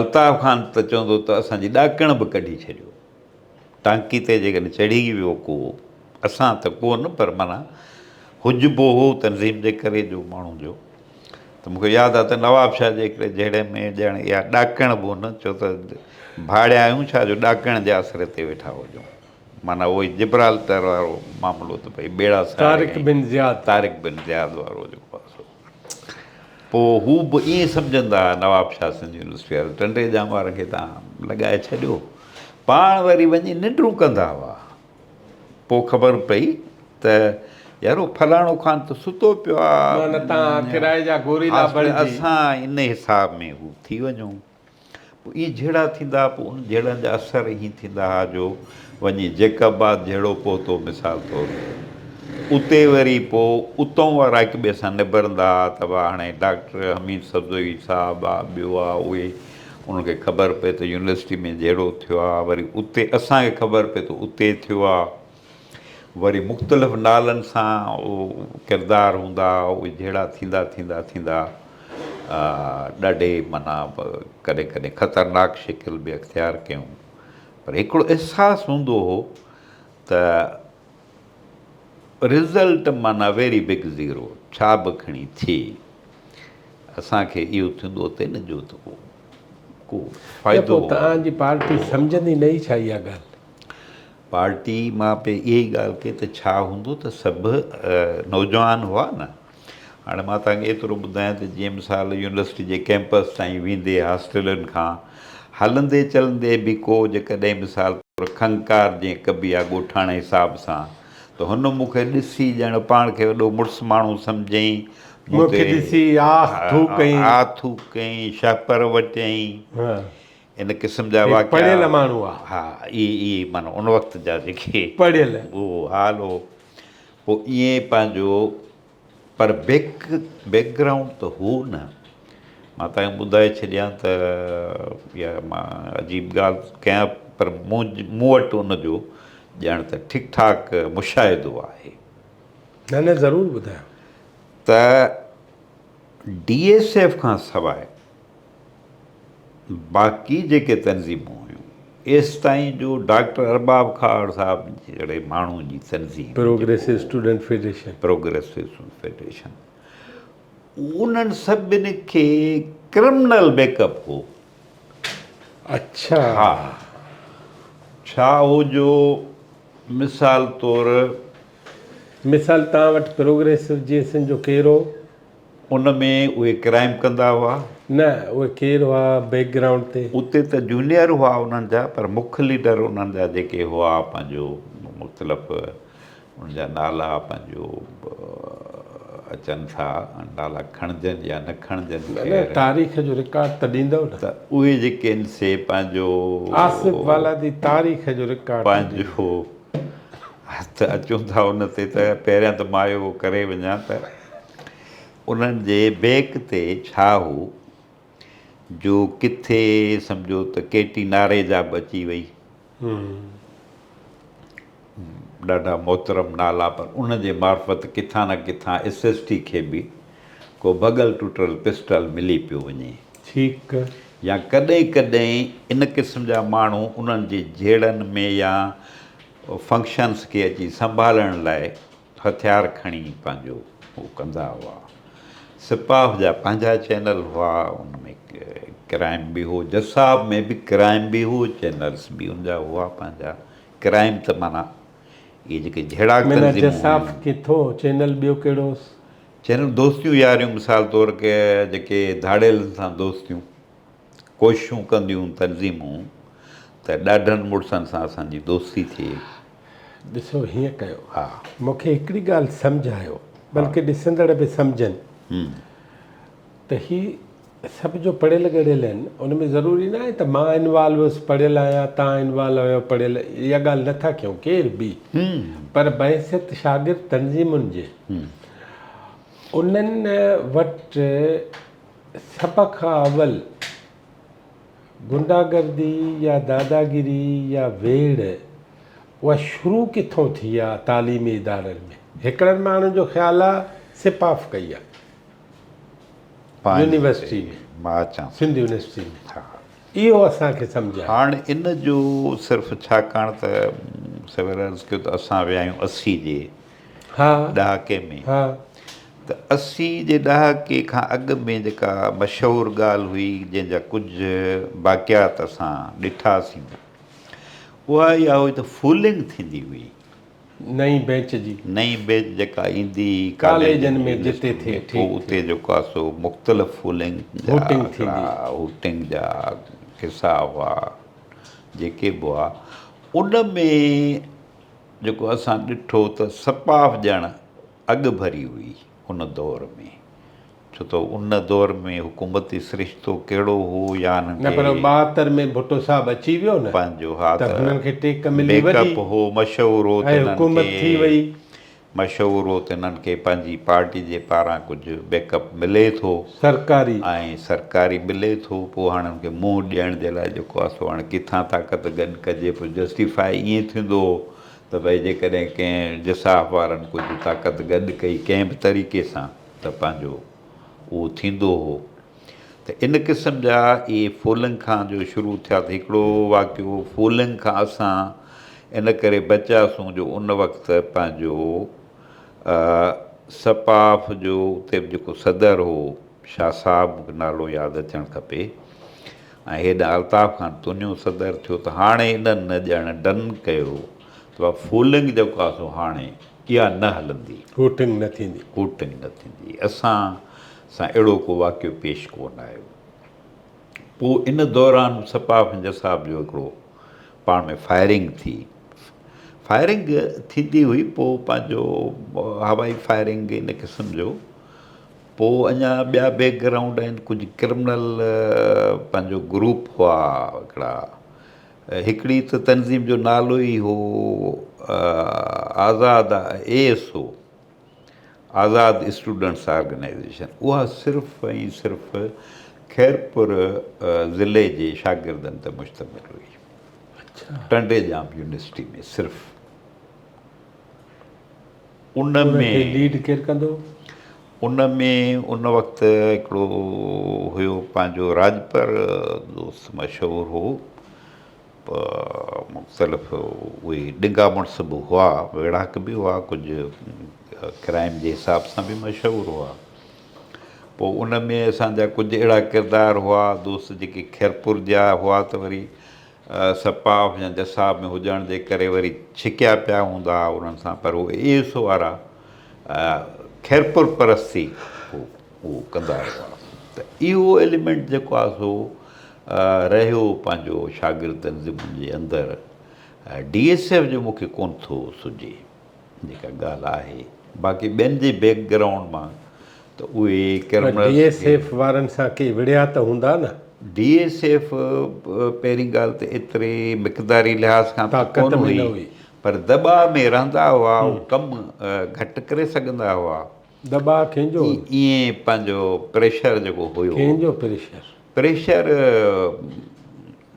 الطاف خان ته چوندو ته اسان جي ڏاڪڻ به ڪڍي ڇڏيو ٽانڪي تي جيڪڏهن چڙهي ويو ڪو، اسان ته ڪو نه پر معنيٰ حجبو هو تنظيم جي ڪري جو ماڻهو جو ته مون کي ياد آهي ته نوابشاهه جي هڪڙي جهيڙي ۾ ڄڻ اها ڏاڪڻ به هن چيو ته ڀاڙيا آهيون ڇا جو ڏاڪڻ جي آسري تي ويٺا هجون. معنيٰ اهو ئي جبرالٽر وارو معاملو ته ڀئي ٻيڙا ساڙي ۽ طارق بن زياد وارو جيڪو آسرو. پوء هو به ائين سمجهندا ها، نواب شاهه سنڌ يونيورسٽي وارن ٽنڊي ڄام وارن کي تان لڳائي ڇڏيو. پاڻ وري وڃي ننڊون ڪندا هئا. پوء خبر پئي ته يارو فلاڻو خان ته ستو پيو آ. اسان انهي حساب ۾ هو ٿي وڃون. پوء ايئن جهيڙا ٿيندا ها، پوء انهن جهيڙن جا اثر ايئن ٿيندا ها جو وڃي جيڪب آباد جهيڙو پهتو مثال طور اتي وري پوء اتئون وارا هڪ ٻئي سان نبرندا ها ته واهه هاڻي ڊاڪٽر حميد سبزوئي صاحب آ ٻيو آ اهي انهن کي خبر پئي ته يونيورسٽي ۾ جهيڙو ٿيو آ وري اتي اسان کي خبر پئي ته اتي ٿيو آ. وري مختلف نالن سان ڪردار هوندا اهي جهيڙا ٿيندا ٿيندا ٿيندا ڏاڍي معنيٰ ڪڏهن ڪڏهن خطرناڪ شڪل به اختيار ڪيون پر هڪڙو احساس هوندو هو ته رزلٽ معنيٰ ويري بگ زيرو ڇا به کڻي ٿئي اسان کي اهو ٿيندو ته نه جو ته ڪو ڪو فائدو توهان جي پارٽي سمجهندي نه ئي ڇا اها ڳالهه؟ پارٽي مان پئي اها ئي ڳالهه ڪئي ته ڇا هوندو ته سڀ نوجوان هئا نه. هاڻي مان توهان کي ايترو ٻڌايان ته جنهن مثال يونيورسٽي جي ڪئمپس تائين ويندي هاسٽلن کان هلندي چلندي به ڪو جيڪڏهن مثال طور کنڪار جنهن ڪبي ها ڳوٺاڻي حساب سان ته هن مون کي ڏسي ڄڻ پاڻ کي وڏو مڙس ماڻهو سمجهيائين مون تي آه ٿوڪ ڪيائين شهپر وٽيائين. ان قسم جا واقعا پڙهيل ماڻهو آ ها اي اي معنيٰ ان وقت جا جيڪي پڙهيل هو حال هو پو ائين پنهنجو پر بيڪ بيڪ گرائونڊ ته هو نه مان تانکي ٻڌائي ڇڏيان ته يا مان عجيب ڳالهه ڪيان پر مون مون وٽ ان جو ڄڻ ته ٺيڪ ٺاڪ مشاهدو آهي نه نه ضرور ٻڌايو ته ڊي ايس ايف کان سواء باقي جيڪي تنظيمون هيون ايستائين جو ڊاڪٽر ارباب کهاڙ صاحب جهڙي ماڻهو جي تنظيم progressive student federation progressive student federation انهن سڀني کي ڪرمنل بيڪ اپ هو اڇا ها ڇا هو جو مثال طور مثال تان وٽ پروگريسو جي سن جو ڪيرو ان ۾ اهي ڪرائيم ڪندا هئا؟ نه، اهي ڪير هئا بيڪ گرائونڊ تي؟ اتي ته جونيئر هئا انهن جا پر مک ليڊر انهن جا جيڪي هئا پنهنجو مختلف ان جا نالا پنهنجو اچن ٿا نالا کڻجن يا نه کڻجن خير تاريخ جو رڪارڊ ته ڏيندؤ نه؟ ته اهي جيڪي آهن سي پنهنجو آصف والادي تاريخ جو رڪارڊ ته ڏيندؤ. هٿ اچون ٿا ان تي ته پهريان ته مان اهو ڪري وڃان ته انهن جي بيڪ تي ڇا هو جو ڪٿي سمجهو ته ڪيٽي ناري جا به اچي وئي ڏاڍا محترم نالا پر ان جي معرفت ڪٿان نه ڪٿان ايس ايس ٽي کي به ڪو ڀڳل ٽٽل پسٽل ملي پيو وڃي ٺيڪ. يا ڪڏهن ڪڏهن ان قسم جا ماڻهو انهن جي جهيڙن ۾ يا فنڪشنس کي اچي سنڀالڻ لاء هٿيار کڻي پنهنجو هو ڪندا هئا. سپاهه جا پنهنجا چينل هئا ان ۾ ڪرائم به هو جساب ۾ به ڪرائم به هو چينلس به ان جا هئا پنهنجا ڪرائم ته معنيٰ اهي جيڪي جهيڙاڪ تنظيمون هيون. معنيٰ جساب ڪٿو چينل ٻيو ڪهڙو چينل دوستيون ياريون مثال طور ڪي جيڪي ڌاڙيلن سان دوستيون ڪوششون ڪنديون تنظيمون ته ڏاڍن مڙسن سان اسان جي دوستي ٿئي. ڏسو هيئن ڪيو مون کي هڪڙي ڳالهه سمجهه آيو بلڪه ڏسندڙ به سمجهن ته هي سڀ جو پڙهيل ڳڙهيل آهن ان ۾ ضروري نه آهي ته مان انوالو هوس پڙهيل آهيان تان انوالو آهيو پڙهيل اها ڳالهه نه ٿا ڪيون ڪير به پر بحيثيت شاگرد تنظيمن جي انهن وٽ سڀ کان اول غنڊا گردي يا داداگيري يا ويڙهه اها شروع ڪٿون ٿي آهي تعليمي ادارن ۾ هڪڙن ماڻهن جو خيال آهي سپاف ڪئي آهي يونيورسٽي ۾ مان اچان سنڌ يونيورسٽي ۾ ها اهو اسان کي سمجهه هاڻ ان جو صرف ڇاڪاڻ ته سوير عرض ڪيو ته اسان ويا آهيون اسي جي ها ڏهاڪي ۾ ها ته اسي جي ڏهاڪي کان اڳ ۾ جيڪا مشهور ڳالهه هئي جنهن جا ڪجهه باقيات اسان ڏٺاسين اها اها هئي ته فولنگ ٿيندي هئي نئين بينچ جي. نئين بينچ جيڪا ايندي ئي ڪاليجن ۾ جتي ٿئي پوء اتي جيڪا سو مختلف فولنگ جا آڪڙا هوٽنگ جا حصا هئا جيڪي به هئا ان ۾ جيڪو اسان ڏٺو ته سپاف ڄڻ اڳڀري هئي. ان دور ۾، ڇو ته ان دور ۾ حڪومتي سرشتو ڪهڙو هو يا انهن کي. نه پر ٻاهتر ۾ ڀٽو صاحب اچي ويو نه پنهنجو ها ته هنن کي ٽيڪ ملي وڏي بيڪ اپ هو مشهور هو ته ۽ انهن حڪومت کي ٿي وئي. مشهور هو ته انهن کي پنهنجي پارٽي جي پاران ڪجهه بيڪ اپ ملي ٿو سرڪاري. ۽ سرڪاري ملي ٿو پوء هاڻ ان کي منهن ڏيڻ جي لاء جيڪو آسو هاڻ ڪٿان طاقت گڏ ڪجي پوء جسٽيفاء ائين ٿيندو هو ته ڀئي جيڪڏهن ڪنهن جساح وارن ڪجهه طاقت گڏ ڪئي ڪنهن به طريقي سان ته پنهنجو اهو ٿيندو هو ته ان قسم جا اهي فولنگ کان جو شروع ٿيا ته هڪڙو واقعو فولنگ کان اسان ان ڪري بچياسون جو ان وقت پنهنجو سپاف جو اتي به جيڪو صدر هو شاهه صاحب مونکي نالو ياد اچڻ کپي ۽ هيڏانهن الطاف خان تونيون صدر ٿيو ته هاڻي انهن نه ڄڻ ڊن ڪيو ته اها فولنگ جيڪو آهي سو هاڻي اها نه هلندي. هوٽنگ نه ٿيندي. هوٽنگ نه ٿيندي. اسان سان اهڙو ڪو واقعو پيش ڪو نه آيو. پوء ان دوران سپاهه ۽ پنجه صاحب جو هڪڙو پاڻ ۾ فائرنگ ٿي. فائرنگ ٿيندي هئي پوء پنهنجو هوائي فائرنگ ان قسم جو. پوء اڃا ٻيا بيڪ گرائونڊ آهن ڪجهه ڪرمنل پنهنجو گروپ هئا هڪڙا هڪڙي ته تنظيم جو نالو ئي هو آزاد اي ايس او آزاد اسٽوڊنٽس آرگنائيزيشن اها صرف ۽ صرف خيرپور ضلعي جي شاگردن تي مشتمل هئي ٽنڊي ڄام يونيورسٽي ۾ صرف ان کي ليڊ ڪير ڪندو؟ ان ۾ ان وقت هڪڙو هيو پنهنجو راڄپر دوست مشهور هو پ مختلف اهي ڏنگا مڙس به هئا ويڙهاڪ به هئا ڪجهه ڪرائم جي حساب سان به مشهور هئا پوء ان ۾ اسان جا ڪجهه اهڙا ڪردار هئا دوست جيڪي خيرپور جا هئا ته وري سپاف يا جساب ۾ هجڻ جي ڪري وري ڇڪيا پيا هوندا ها انهن سان پر هو ايس وارا خيرپور پرستي هو ڪندا رهيا ته اهو ايليمينٽ جيڪو آهي سو رهيو پنهنجو شاگرد تنظيمن جي اندر ڊي ايس ايف جو مون کي ڪونه ٿو سجهي جيڪا ڳالهه آهي باقي ٻين جي بيڪ گرائونڊ مان ته اهي ڪرمنلز ڊي ايس ايف وارن سان ڪي وڙهيا ته هوندا نه. ڊي ايس ايف پهرين ڳالهه ته ايتري مقداري لحاظ کان ته ڪون هئي پر دٻاء ۾ رهندا هئا ڪم گهٽ ڪري سگهندا هئا. دٻاء ڪنهنجو هو؟ ائين پنهنجو پريشر جيڪو هيو. ڪنهنجو پريشر؟ پريشر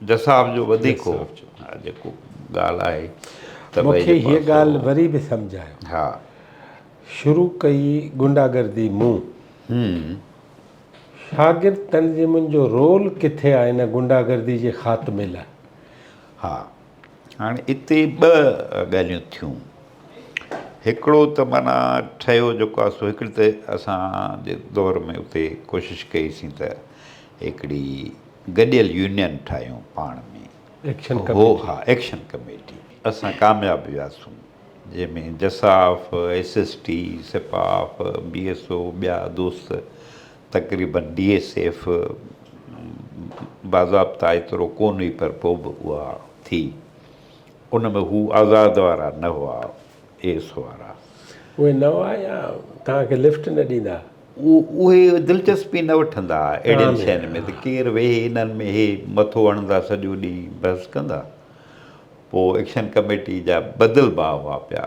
جساف جو وڌيڪ هو. جساف جو. ها جيڪو ڳالهه آهي ته ڀئي جي پاسو. مون کي هيء ڳالهه وري به سمجهايو. ها. شروع ڪئي غنڊا گردي مون. هم. شاگرد تنظيمن جو رول ڪٿي آهي ان غنڊا گردي جي خاتمي لاء؟ ها. هاڻي اتي ٻه ڳالهيون ٿيون هڪڙو ته معنيٰ ٺهيو جيڪو آهي سو هڪڙي ته اسان جي دور ۾ اتي ڪوشش ڪئي سين ته هڪڙي گڏيل يونين ٺاهيون پاڻ ۾ ايڪشن ڪميٽي هو ها ايڪشن ڪميٽي اسان ڪامياب وياسون جنهن ۾ جساف ايس ايس ٽي سپاف بي ايس او ٻيا دوست تقريباً بي ايس ايف باضابطا ايترو ڪونه هئي پر پوء به اها ٿي. ان ۾ هو آزاد وارا نه هئا، اي ايس وارا. اهي نه هئا يا توهان کي لفٽ نه ڏيندا هئا؟ اهي دلچسپي نه وٺندا هئا اهڙين شين ۾ ته ڪير ويهي انهن ۾ اهي مٿو هڻندا سڄو ڏينهن بحث ڪندا. پوء ايڪشن ڪميٽي جا بدل باء هئا پيا.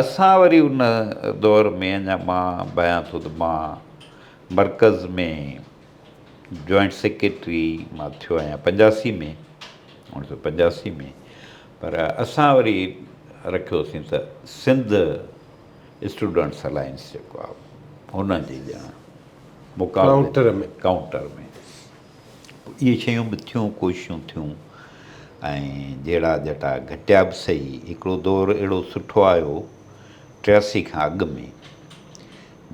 اسان وري ان دور ۾ اڃا مان بيان ٿو ته مان مرڪز ۾ جوائنٽ سيڪريٽري مان ٿيو آهيان پنجاسي ۾ اوڻ سو پنجاسي ۾ پر اسان وري رکيوسين ته سنڌ اسٽوڊنٽس الائنس جيڪو آهي ان جي ڄڻ مقابلي ۾ ڪائونٽر ۾ اهي شيون به ٿيون، ڪوششون ٿيون ۽ جهيڙا جٽا گهٽيا به سهي. هڪڙو دور اهڙو سٺو آيو ٽياسي کان اڳ ۾،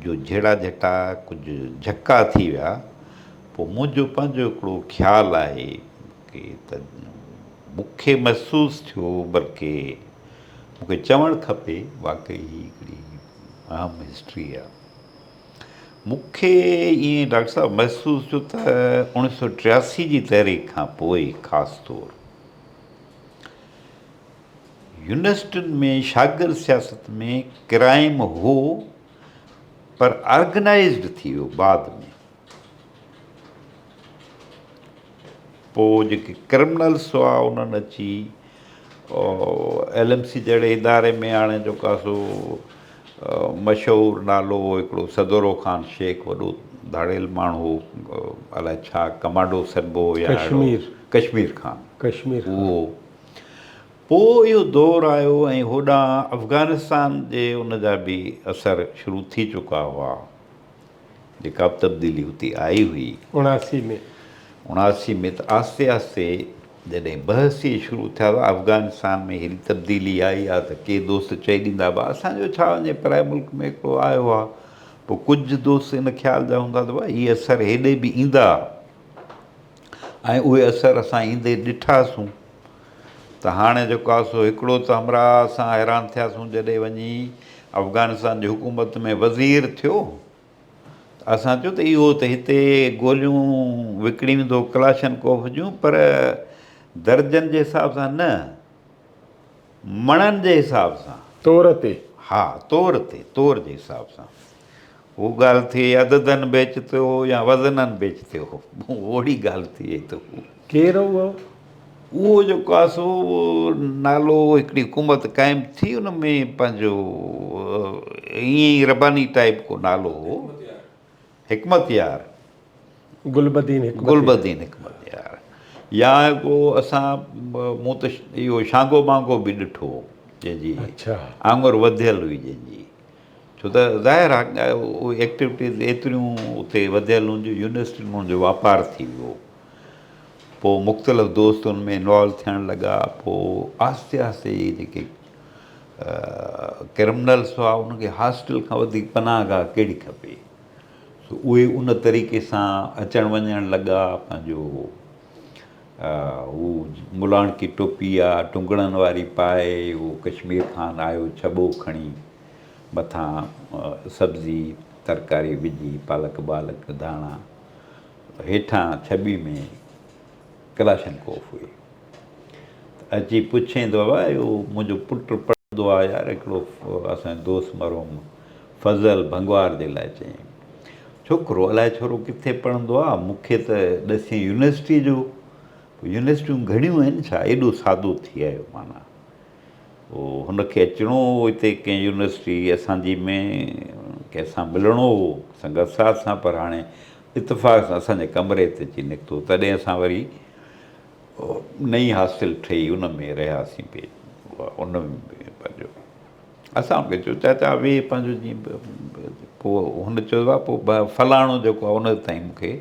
جو جهيڙا جٽا ڪجهه جهڪا ٿي ويا. پوء منهنجو پنهنجو هڪڙو خيال آهي ڪي ته مون کي محسوس ٿيو بلڪه مون کي چوڻ کپي واقعي هي هڪڙي اهم هسٽري آهي. مون کي ائين ڊاڪٽر صاحب محسوس ٿيو ته اوڻيھ سؤ ٽياسي جي تحريڪ کان پوء خاص طور يونيورسٽين ۾ شاگرد سياست ۾ ڪرائيم هو پر آرگنائيزڊ ٿي ويو بعد ۾ پوء جيڪي ڪرمنلس هئا انهن اچي ايل ايم سي جهڙي اداري ۾ هاڻي جو ڪا سو مشهور نالو هو هڪڙو صدورو خان شيخ وڏو ڌاڙيل ماڻهو هو الائي ڇا ڪمانڊو سڏبو هو يا ڪشمير ڪشمير خان ڪشمير خان اهو پوء اهو دور آيو ۽ هوڏانهن افغانستان جي ان جا به اثر شروع ٿي چڪا هئا جيڪا به تبديلي اتي آئي هئي. اڻاسي ۾. اڻاسي ۾ ته آهستي آهستي جڏهن بحث ئي شروع ٿيا هئا، افغانستان ۾ هيڏي تبديلي آئي ها ته ڪي دوست چئي ڏيندا به ها اسان جو ڇا وڃي پرائي ملڪ ۾ هڪڙو آيو ها. پوء ڪجهه دوست ان خيال جا هوندا ته واهه هي اثر هيڏي به ايندا ها ۽ اهي اثر اسان ايندي ڏٺاسون. ته هاڻي جو ڪا سو هڪڙو ته همراهه اسان حيران ٿياسون جڏهن وڃي افغانستان جي حڪومت ۾ وزير ٿيو ته اسان چيو ته اهو ته هتي گوليون وڪڻيندو ڪلاشن ڪوف جون پر درجن جي حساب سان نه مڻن جي حساب سان. تور تي. ها تور تي تور جي حساب سان. هو ڳالهه ٿئي عددن بيچ تي هو يا وزنن بيچ تي هو اوڙي ڳالهه ٿئي ته هو. ڪير هو اهو؟ اهو جيڪو آهي سو نالو هڪڙي حڪومت قائم ٿي ان ۾ پنهنجو ائين ئي رباني ٽائيپ ڪو نالو هو حڪمت يار گل بدين حڪمت گل بدين حڪمت يار يا ڪو اسان مون ته اهو شانگو مانگو به ڏٺو جنهن جي آڱر وڌيل هئي جنهن جي ڇو ته ظاهر آ اهي ايڪٽيوٽيز ايتريون اتي وڌيل هون جو يونيورسٽين ۾ ان جو واپار ٿي ويو پوء مختلف دوست ان ۾ انوالو ٿيڻ لڳا پوء آهستي آهستي اهي جيڪي ڪرمنلس هئا ان کي هاسٽل کان وڌيڪ پناهه گاهه ڪهڙي کپي سو اهي ان طريقي سان اچڻ وڃڻ لڳا پنهنجو هو ملاڻڪي ٽوپي آ ٽنگڙن واري پائي هو ڪشمير کان آيو ڇٻو کڻي مٿان سبزي ترڪاري وجهي پالڪ بالڪ ڌاڻا هيٺان ڇٻي ۾ ڪلاشن ڪوف هئي ته اچي پڇين ٿو بابا اهو منهنجو پٽ پڙهندو آ يار هڪڙو اسان جو دوست مرحوم فضل ڀنگوار جي لاء چيائين، ڇوڪرو الائي ڇورو ڪٿي پڙهندو آ، مون کي ته ڏسين يونيورسٽيء جو، پوء يونيورسٽيون گهڻيون آهن ڇا، ايڏو سادو ٿي آيو معنيٰ او هن کي اچڻو هو هتي ڪنهن يونيورسٽيء اسان جي ۾ ڪنهن سان ملڻو هو سنگت ساز سان پر هاڻي اتفاق سان اسان جي ڪمري تي اچي نڪتو تڏهن اسان وري نئين هاسٽل ٺهي ان ۾ رهياسين پي ان ۾ پنهنجو اسان ان کي چيو چاچا ويهه پنهنجو جيئن پوء هن چيو بابا پوء بابا فلاڻو جيڪو آهي ان تائين مون کي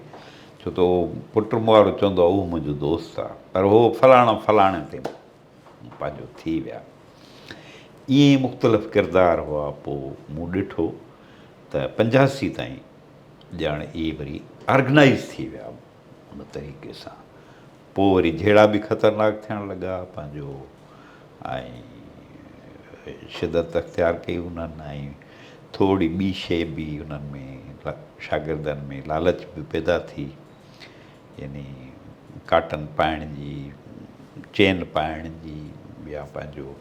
ڇو ته اهو پٽ مون وارو چوندو آهي اهو منهنجو دوست آهي پر هو فلاڻو فلاڻي تي پنهنجو ٿي ويا ائين ئي مختلف ڪردار هئا پوء مون ڏٺو ته پنجاسي تائين ڄاڻ اهي وري آرگنائز ٿي ويا ان طريقي سان پوء وري جهيڙا به خطرناڪ ٿيڻ لڳا پنهنجو ۽ شدت اختيار ڪئي انهن ۽ ٿورڙي ٻي شيء به انهن ۾ شاگردن ۾ لالچ به پيدا ٿي يعني ڪاٽن پائڻ جي چين پائڻ جي يا پنهنجو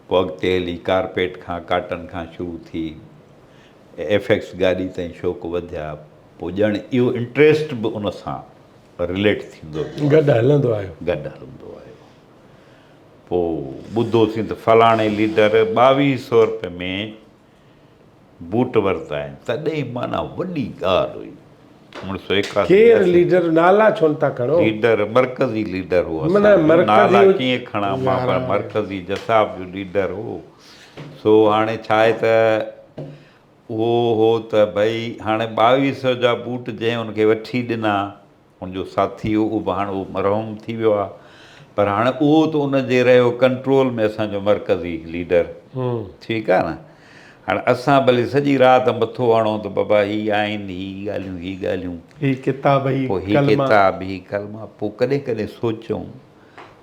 پوء اڳتي هلي ڪارپيٽ کان ڪاٽن کان شروع ٿي ايف ايڪس گاڏي تائين شوق وڌيا پوء ڄڻ اهو انٽريسٽ به ان سان رليٽ ٿيندو ويو گڏ هلندو آيو گڏ هلندو آيو پو ٻڌو سين ته فلاڻي ليڊر ٻاويهه سئو روپيه ۾ بوٽ ورتا آهن تڏهن معنيٰ وڏي ڳالهه هئي اوڻ سئو ايڪاسي ڪير ليڊر نالا ڇو نه ٿا کڻو ليڊر مرڪزي ليڊر هو اسان جو نالا ڪيئن کڻا مان پر مرڪزي جساب جو ليڊر هو سو هاڻي ڇا آهي ته اهو هو ته ڀئي هاڻي ٻاويهه سئو جا بوٽ جنهن ان کي وٺي ڏنا، ان جو ساٿي هو، اهو به هاڻ مرحوم ٿي ويو آهي، پر هاڻ اهو ته ان جي رهيو ڪنٽرول ۾ اسان جو مرڪزي ليڊر. ٺيڪ آهي نه. هاڻ اسان ڀلي سڄي رات مٿو هڻون ته بابا هي آئين، هي ڳالهيون، هي ڳالهيون. هي ڪتاب، هي ڪلما. پوء هي ڪتاب، هي ڪلما. پوء ڪڏهن ڪڏهن سوچون.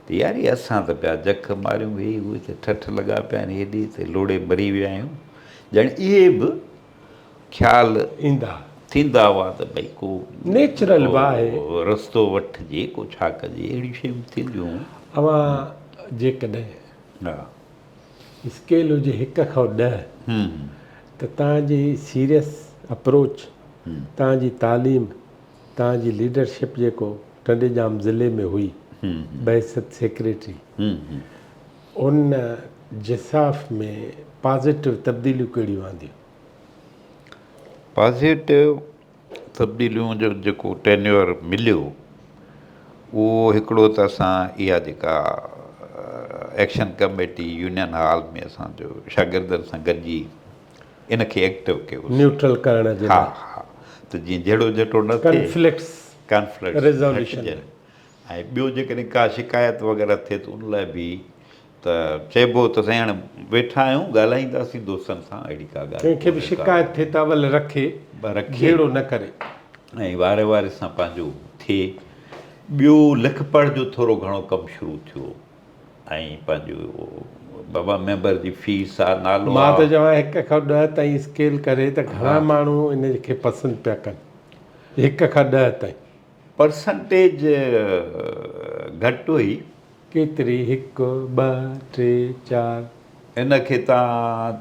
ته ياري اسان ته پيا جک ماريون ويهي اهي ته ٺٺ لڳا پيا آهن هيڏي ته لوڙهي مري ويا آهيون ڄڻ اهي به خيال ايندا ٿيندا هئا ته ڀئي ڪو نيچرل به آهي رستو وٺجي ڪو ڇا ڪجي اهڙيون شيون ٿينديون اوهان جيڪڏهن ها اسڪيل هجي هڪ کان ڏهه ته تنهنجي سيريس اپروچ تنهنجي تعليم توهان جي ليڊرشپ جيڪو ٽنڊيڄام ضلعي ۾ هئي بحيثيت سيڪريٽري ان جساف ۾ پازيٽو تبديليون ڪهڙيون آنديون؟ پازيٽو تبديليون جو جيڪو ٽينيور مليو اهو هڪڙو ته اسان اها جيڪا ايڪشن ڪميٽي يونين هال ۾ اسان جو شاگردن سان گڏجي ان کي ايڪٽو ڪيو سين. نيوٽرل ڪرڻ جي لاء. ها ها ته جيئن جهيڙو جهٽو نه ٿئي. ڪانفلڪٽس ڪانفلڪٽس ريزوليوشن ۾. گهٽجن ۽ ٻيو جيڪڏهن ڪا شڪايت وغيره ٿئي ته ان لاء به ته چئبو ته سائين هاڻي ويٺا آهيون ڳالهائينداسين دوستن سان اهڙي ڪا ڳالهه ڪنهن کي به ڪونهي ڪا شڪايت ٿئي ته اول رکي رکي جهيڙو نه ڪري. ۽ واري واري سان پنهنجو ٿئي. ٻيو لک پڙهه جو ٿورو گهڻو ڪم شروع ٿيو. ۽ پنهنجو بابا ميمبر جي فيس آ نالو آ. مان ٿو چوان هڪ کان ڏهه تائين اسڪيل ڪري ته گهڻا ماڻهو ان کي پسند پيا ڪن هڪ کان ڏهه تائين. پرسنٽيج گهٽ هئي. ڪيتري هڪ ٻه ٽي چار. ان کي تان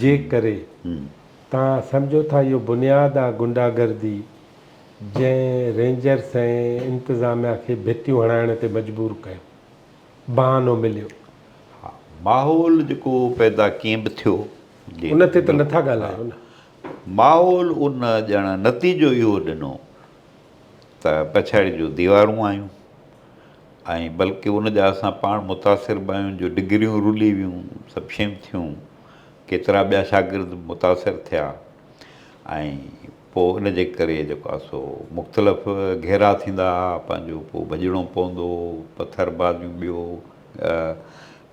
جي ڪري توهان سمجهو ٿا اهو بنياد آ غنڊا گردي جنهن رينجرس ۽ انتظاميا کي ڀتيون هڻائڻ تي مجبور ڪيو بهانو مليو. ها ماحول جيڪو پيدا ڪيئن به ٿيو جي ان تي ته نه ٿا ڳالهايو نه. ماحول ان ڄڻ نتيجو اهو ڏنو ته پڇاڙي جون ديوارون آيون ۽ بلڪه ان جا اسان پاڻ متاثر به آهيون جو ڊگريون رلي ويون، سڀ شيون ٿيون، ڪيترا ٻيا شاگرد به متاثر ٿيا ۽ پوء ان جي ڪري جيڪو آهي سو مختلف گهيرا ٿيندا ها، پنهنجو پوء ڀڄڻو پوندو هو، پٿر بازيون ٻيو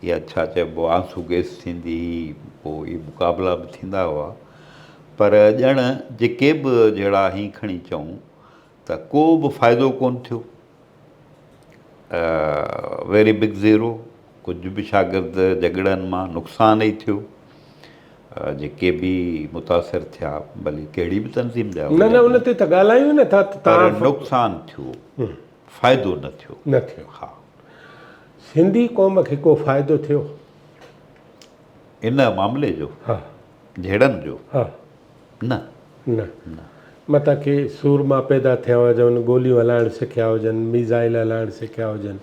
يا ڇا چئبو آهي آنسو گيس ٿيندي هئي، پوء اهي مقابلا به ٿيندا هئا پر ڄڻ جيڪي به جهڙا هين کڻي چئون. ته ڪو به فائدو ڪونه ٿيو. اي ويري بگ زيرو، ڪجهه به شاگرد جهڳڙن مان نقصان ئي ٿيو. جيڪي به متاثر ٿيا، ڀلي ڪهڙي به تنظيم جا هجن. نه نه ان تي ته ڳالهايون ئي نٿا ته تان. پر نقصان ٿيو، فائدو نه ٿيو. نه ٿيو. ها. سنڌي قوم کي ڪو فائدو ٿيو؟ ان معاملي جو؟ ها. جهيڙن جو؟ ها. نه. نه. متان ڪي سورما پيدا ٿيا هجون، گوليون هلائڻ سکيا هجن، ميزائيل هلائڻ سکيا هجن.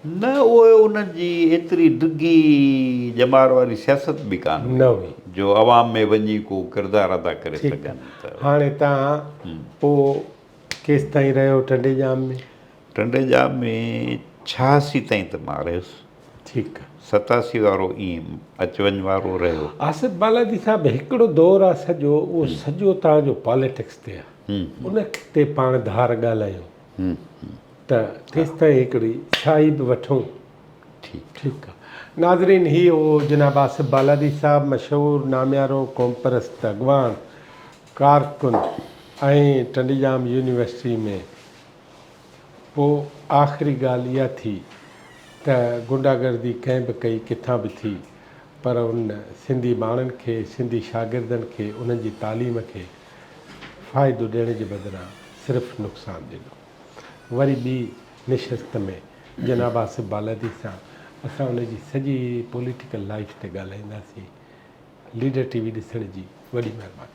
نه اهو انهن جي ايتري ڊگهي ڄمار واري سياست به ڪانه هئي، جو عوام ۾ وڃي ڪو ڪردار ادا ڪري سگهن ته. هاڻي تان پوء. ڪيستائين رهيو ٽنڊي ڄام ۾؟ ٽنڊي ڄام ۾ ڇهاسي تائين ته مان رهيس. ٺيڪ. ستاسي وارو ائين اچ وڃ وارو رهيو. آصف بالادي صاحب هڪڙو دور آ سڄو اهو سڄو توهان جو پاليٽڪس تي آ ان تي پاڻ ڌار ڳالهايون ته تيستائين هڪڙي شاهي به وٺون. ٺيڪ آ ناظرين هي هو جناب آصف بالادي صاحب مشهور ناميارو قومپرست اڳواڻ ڪارڪن ۽ ٽنڊڄام يونيورسٽي ۾ پوء آخري ڳالهه اها ٿي ته غنڊا گردي ڪنهن به ڪئي ڪٿان به ٿي پر ان سنڌي ٻانهن کي سنڌي شاگردن کي انهن جي تعليم کي فائدو ڏيڻ جي بدران صرف نقصان ڏنو وري ٻي نشست ۾ جناب آصف بالادي سان اسان ان جي سڄي پوليٽيڪل لائيف تي ڳالهائينداسين ليڊر ٽي وي ڏسڻ جي وڏي مهرباني.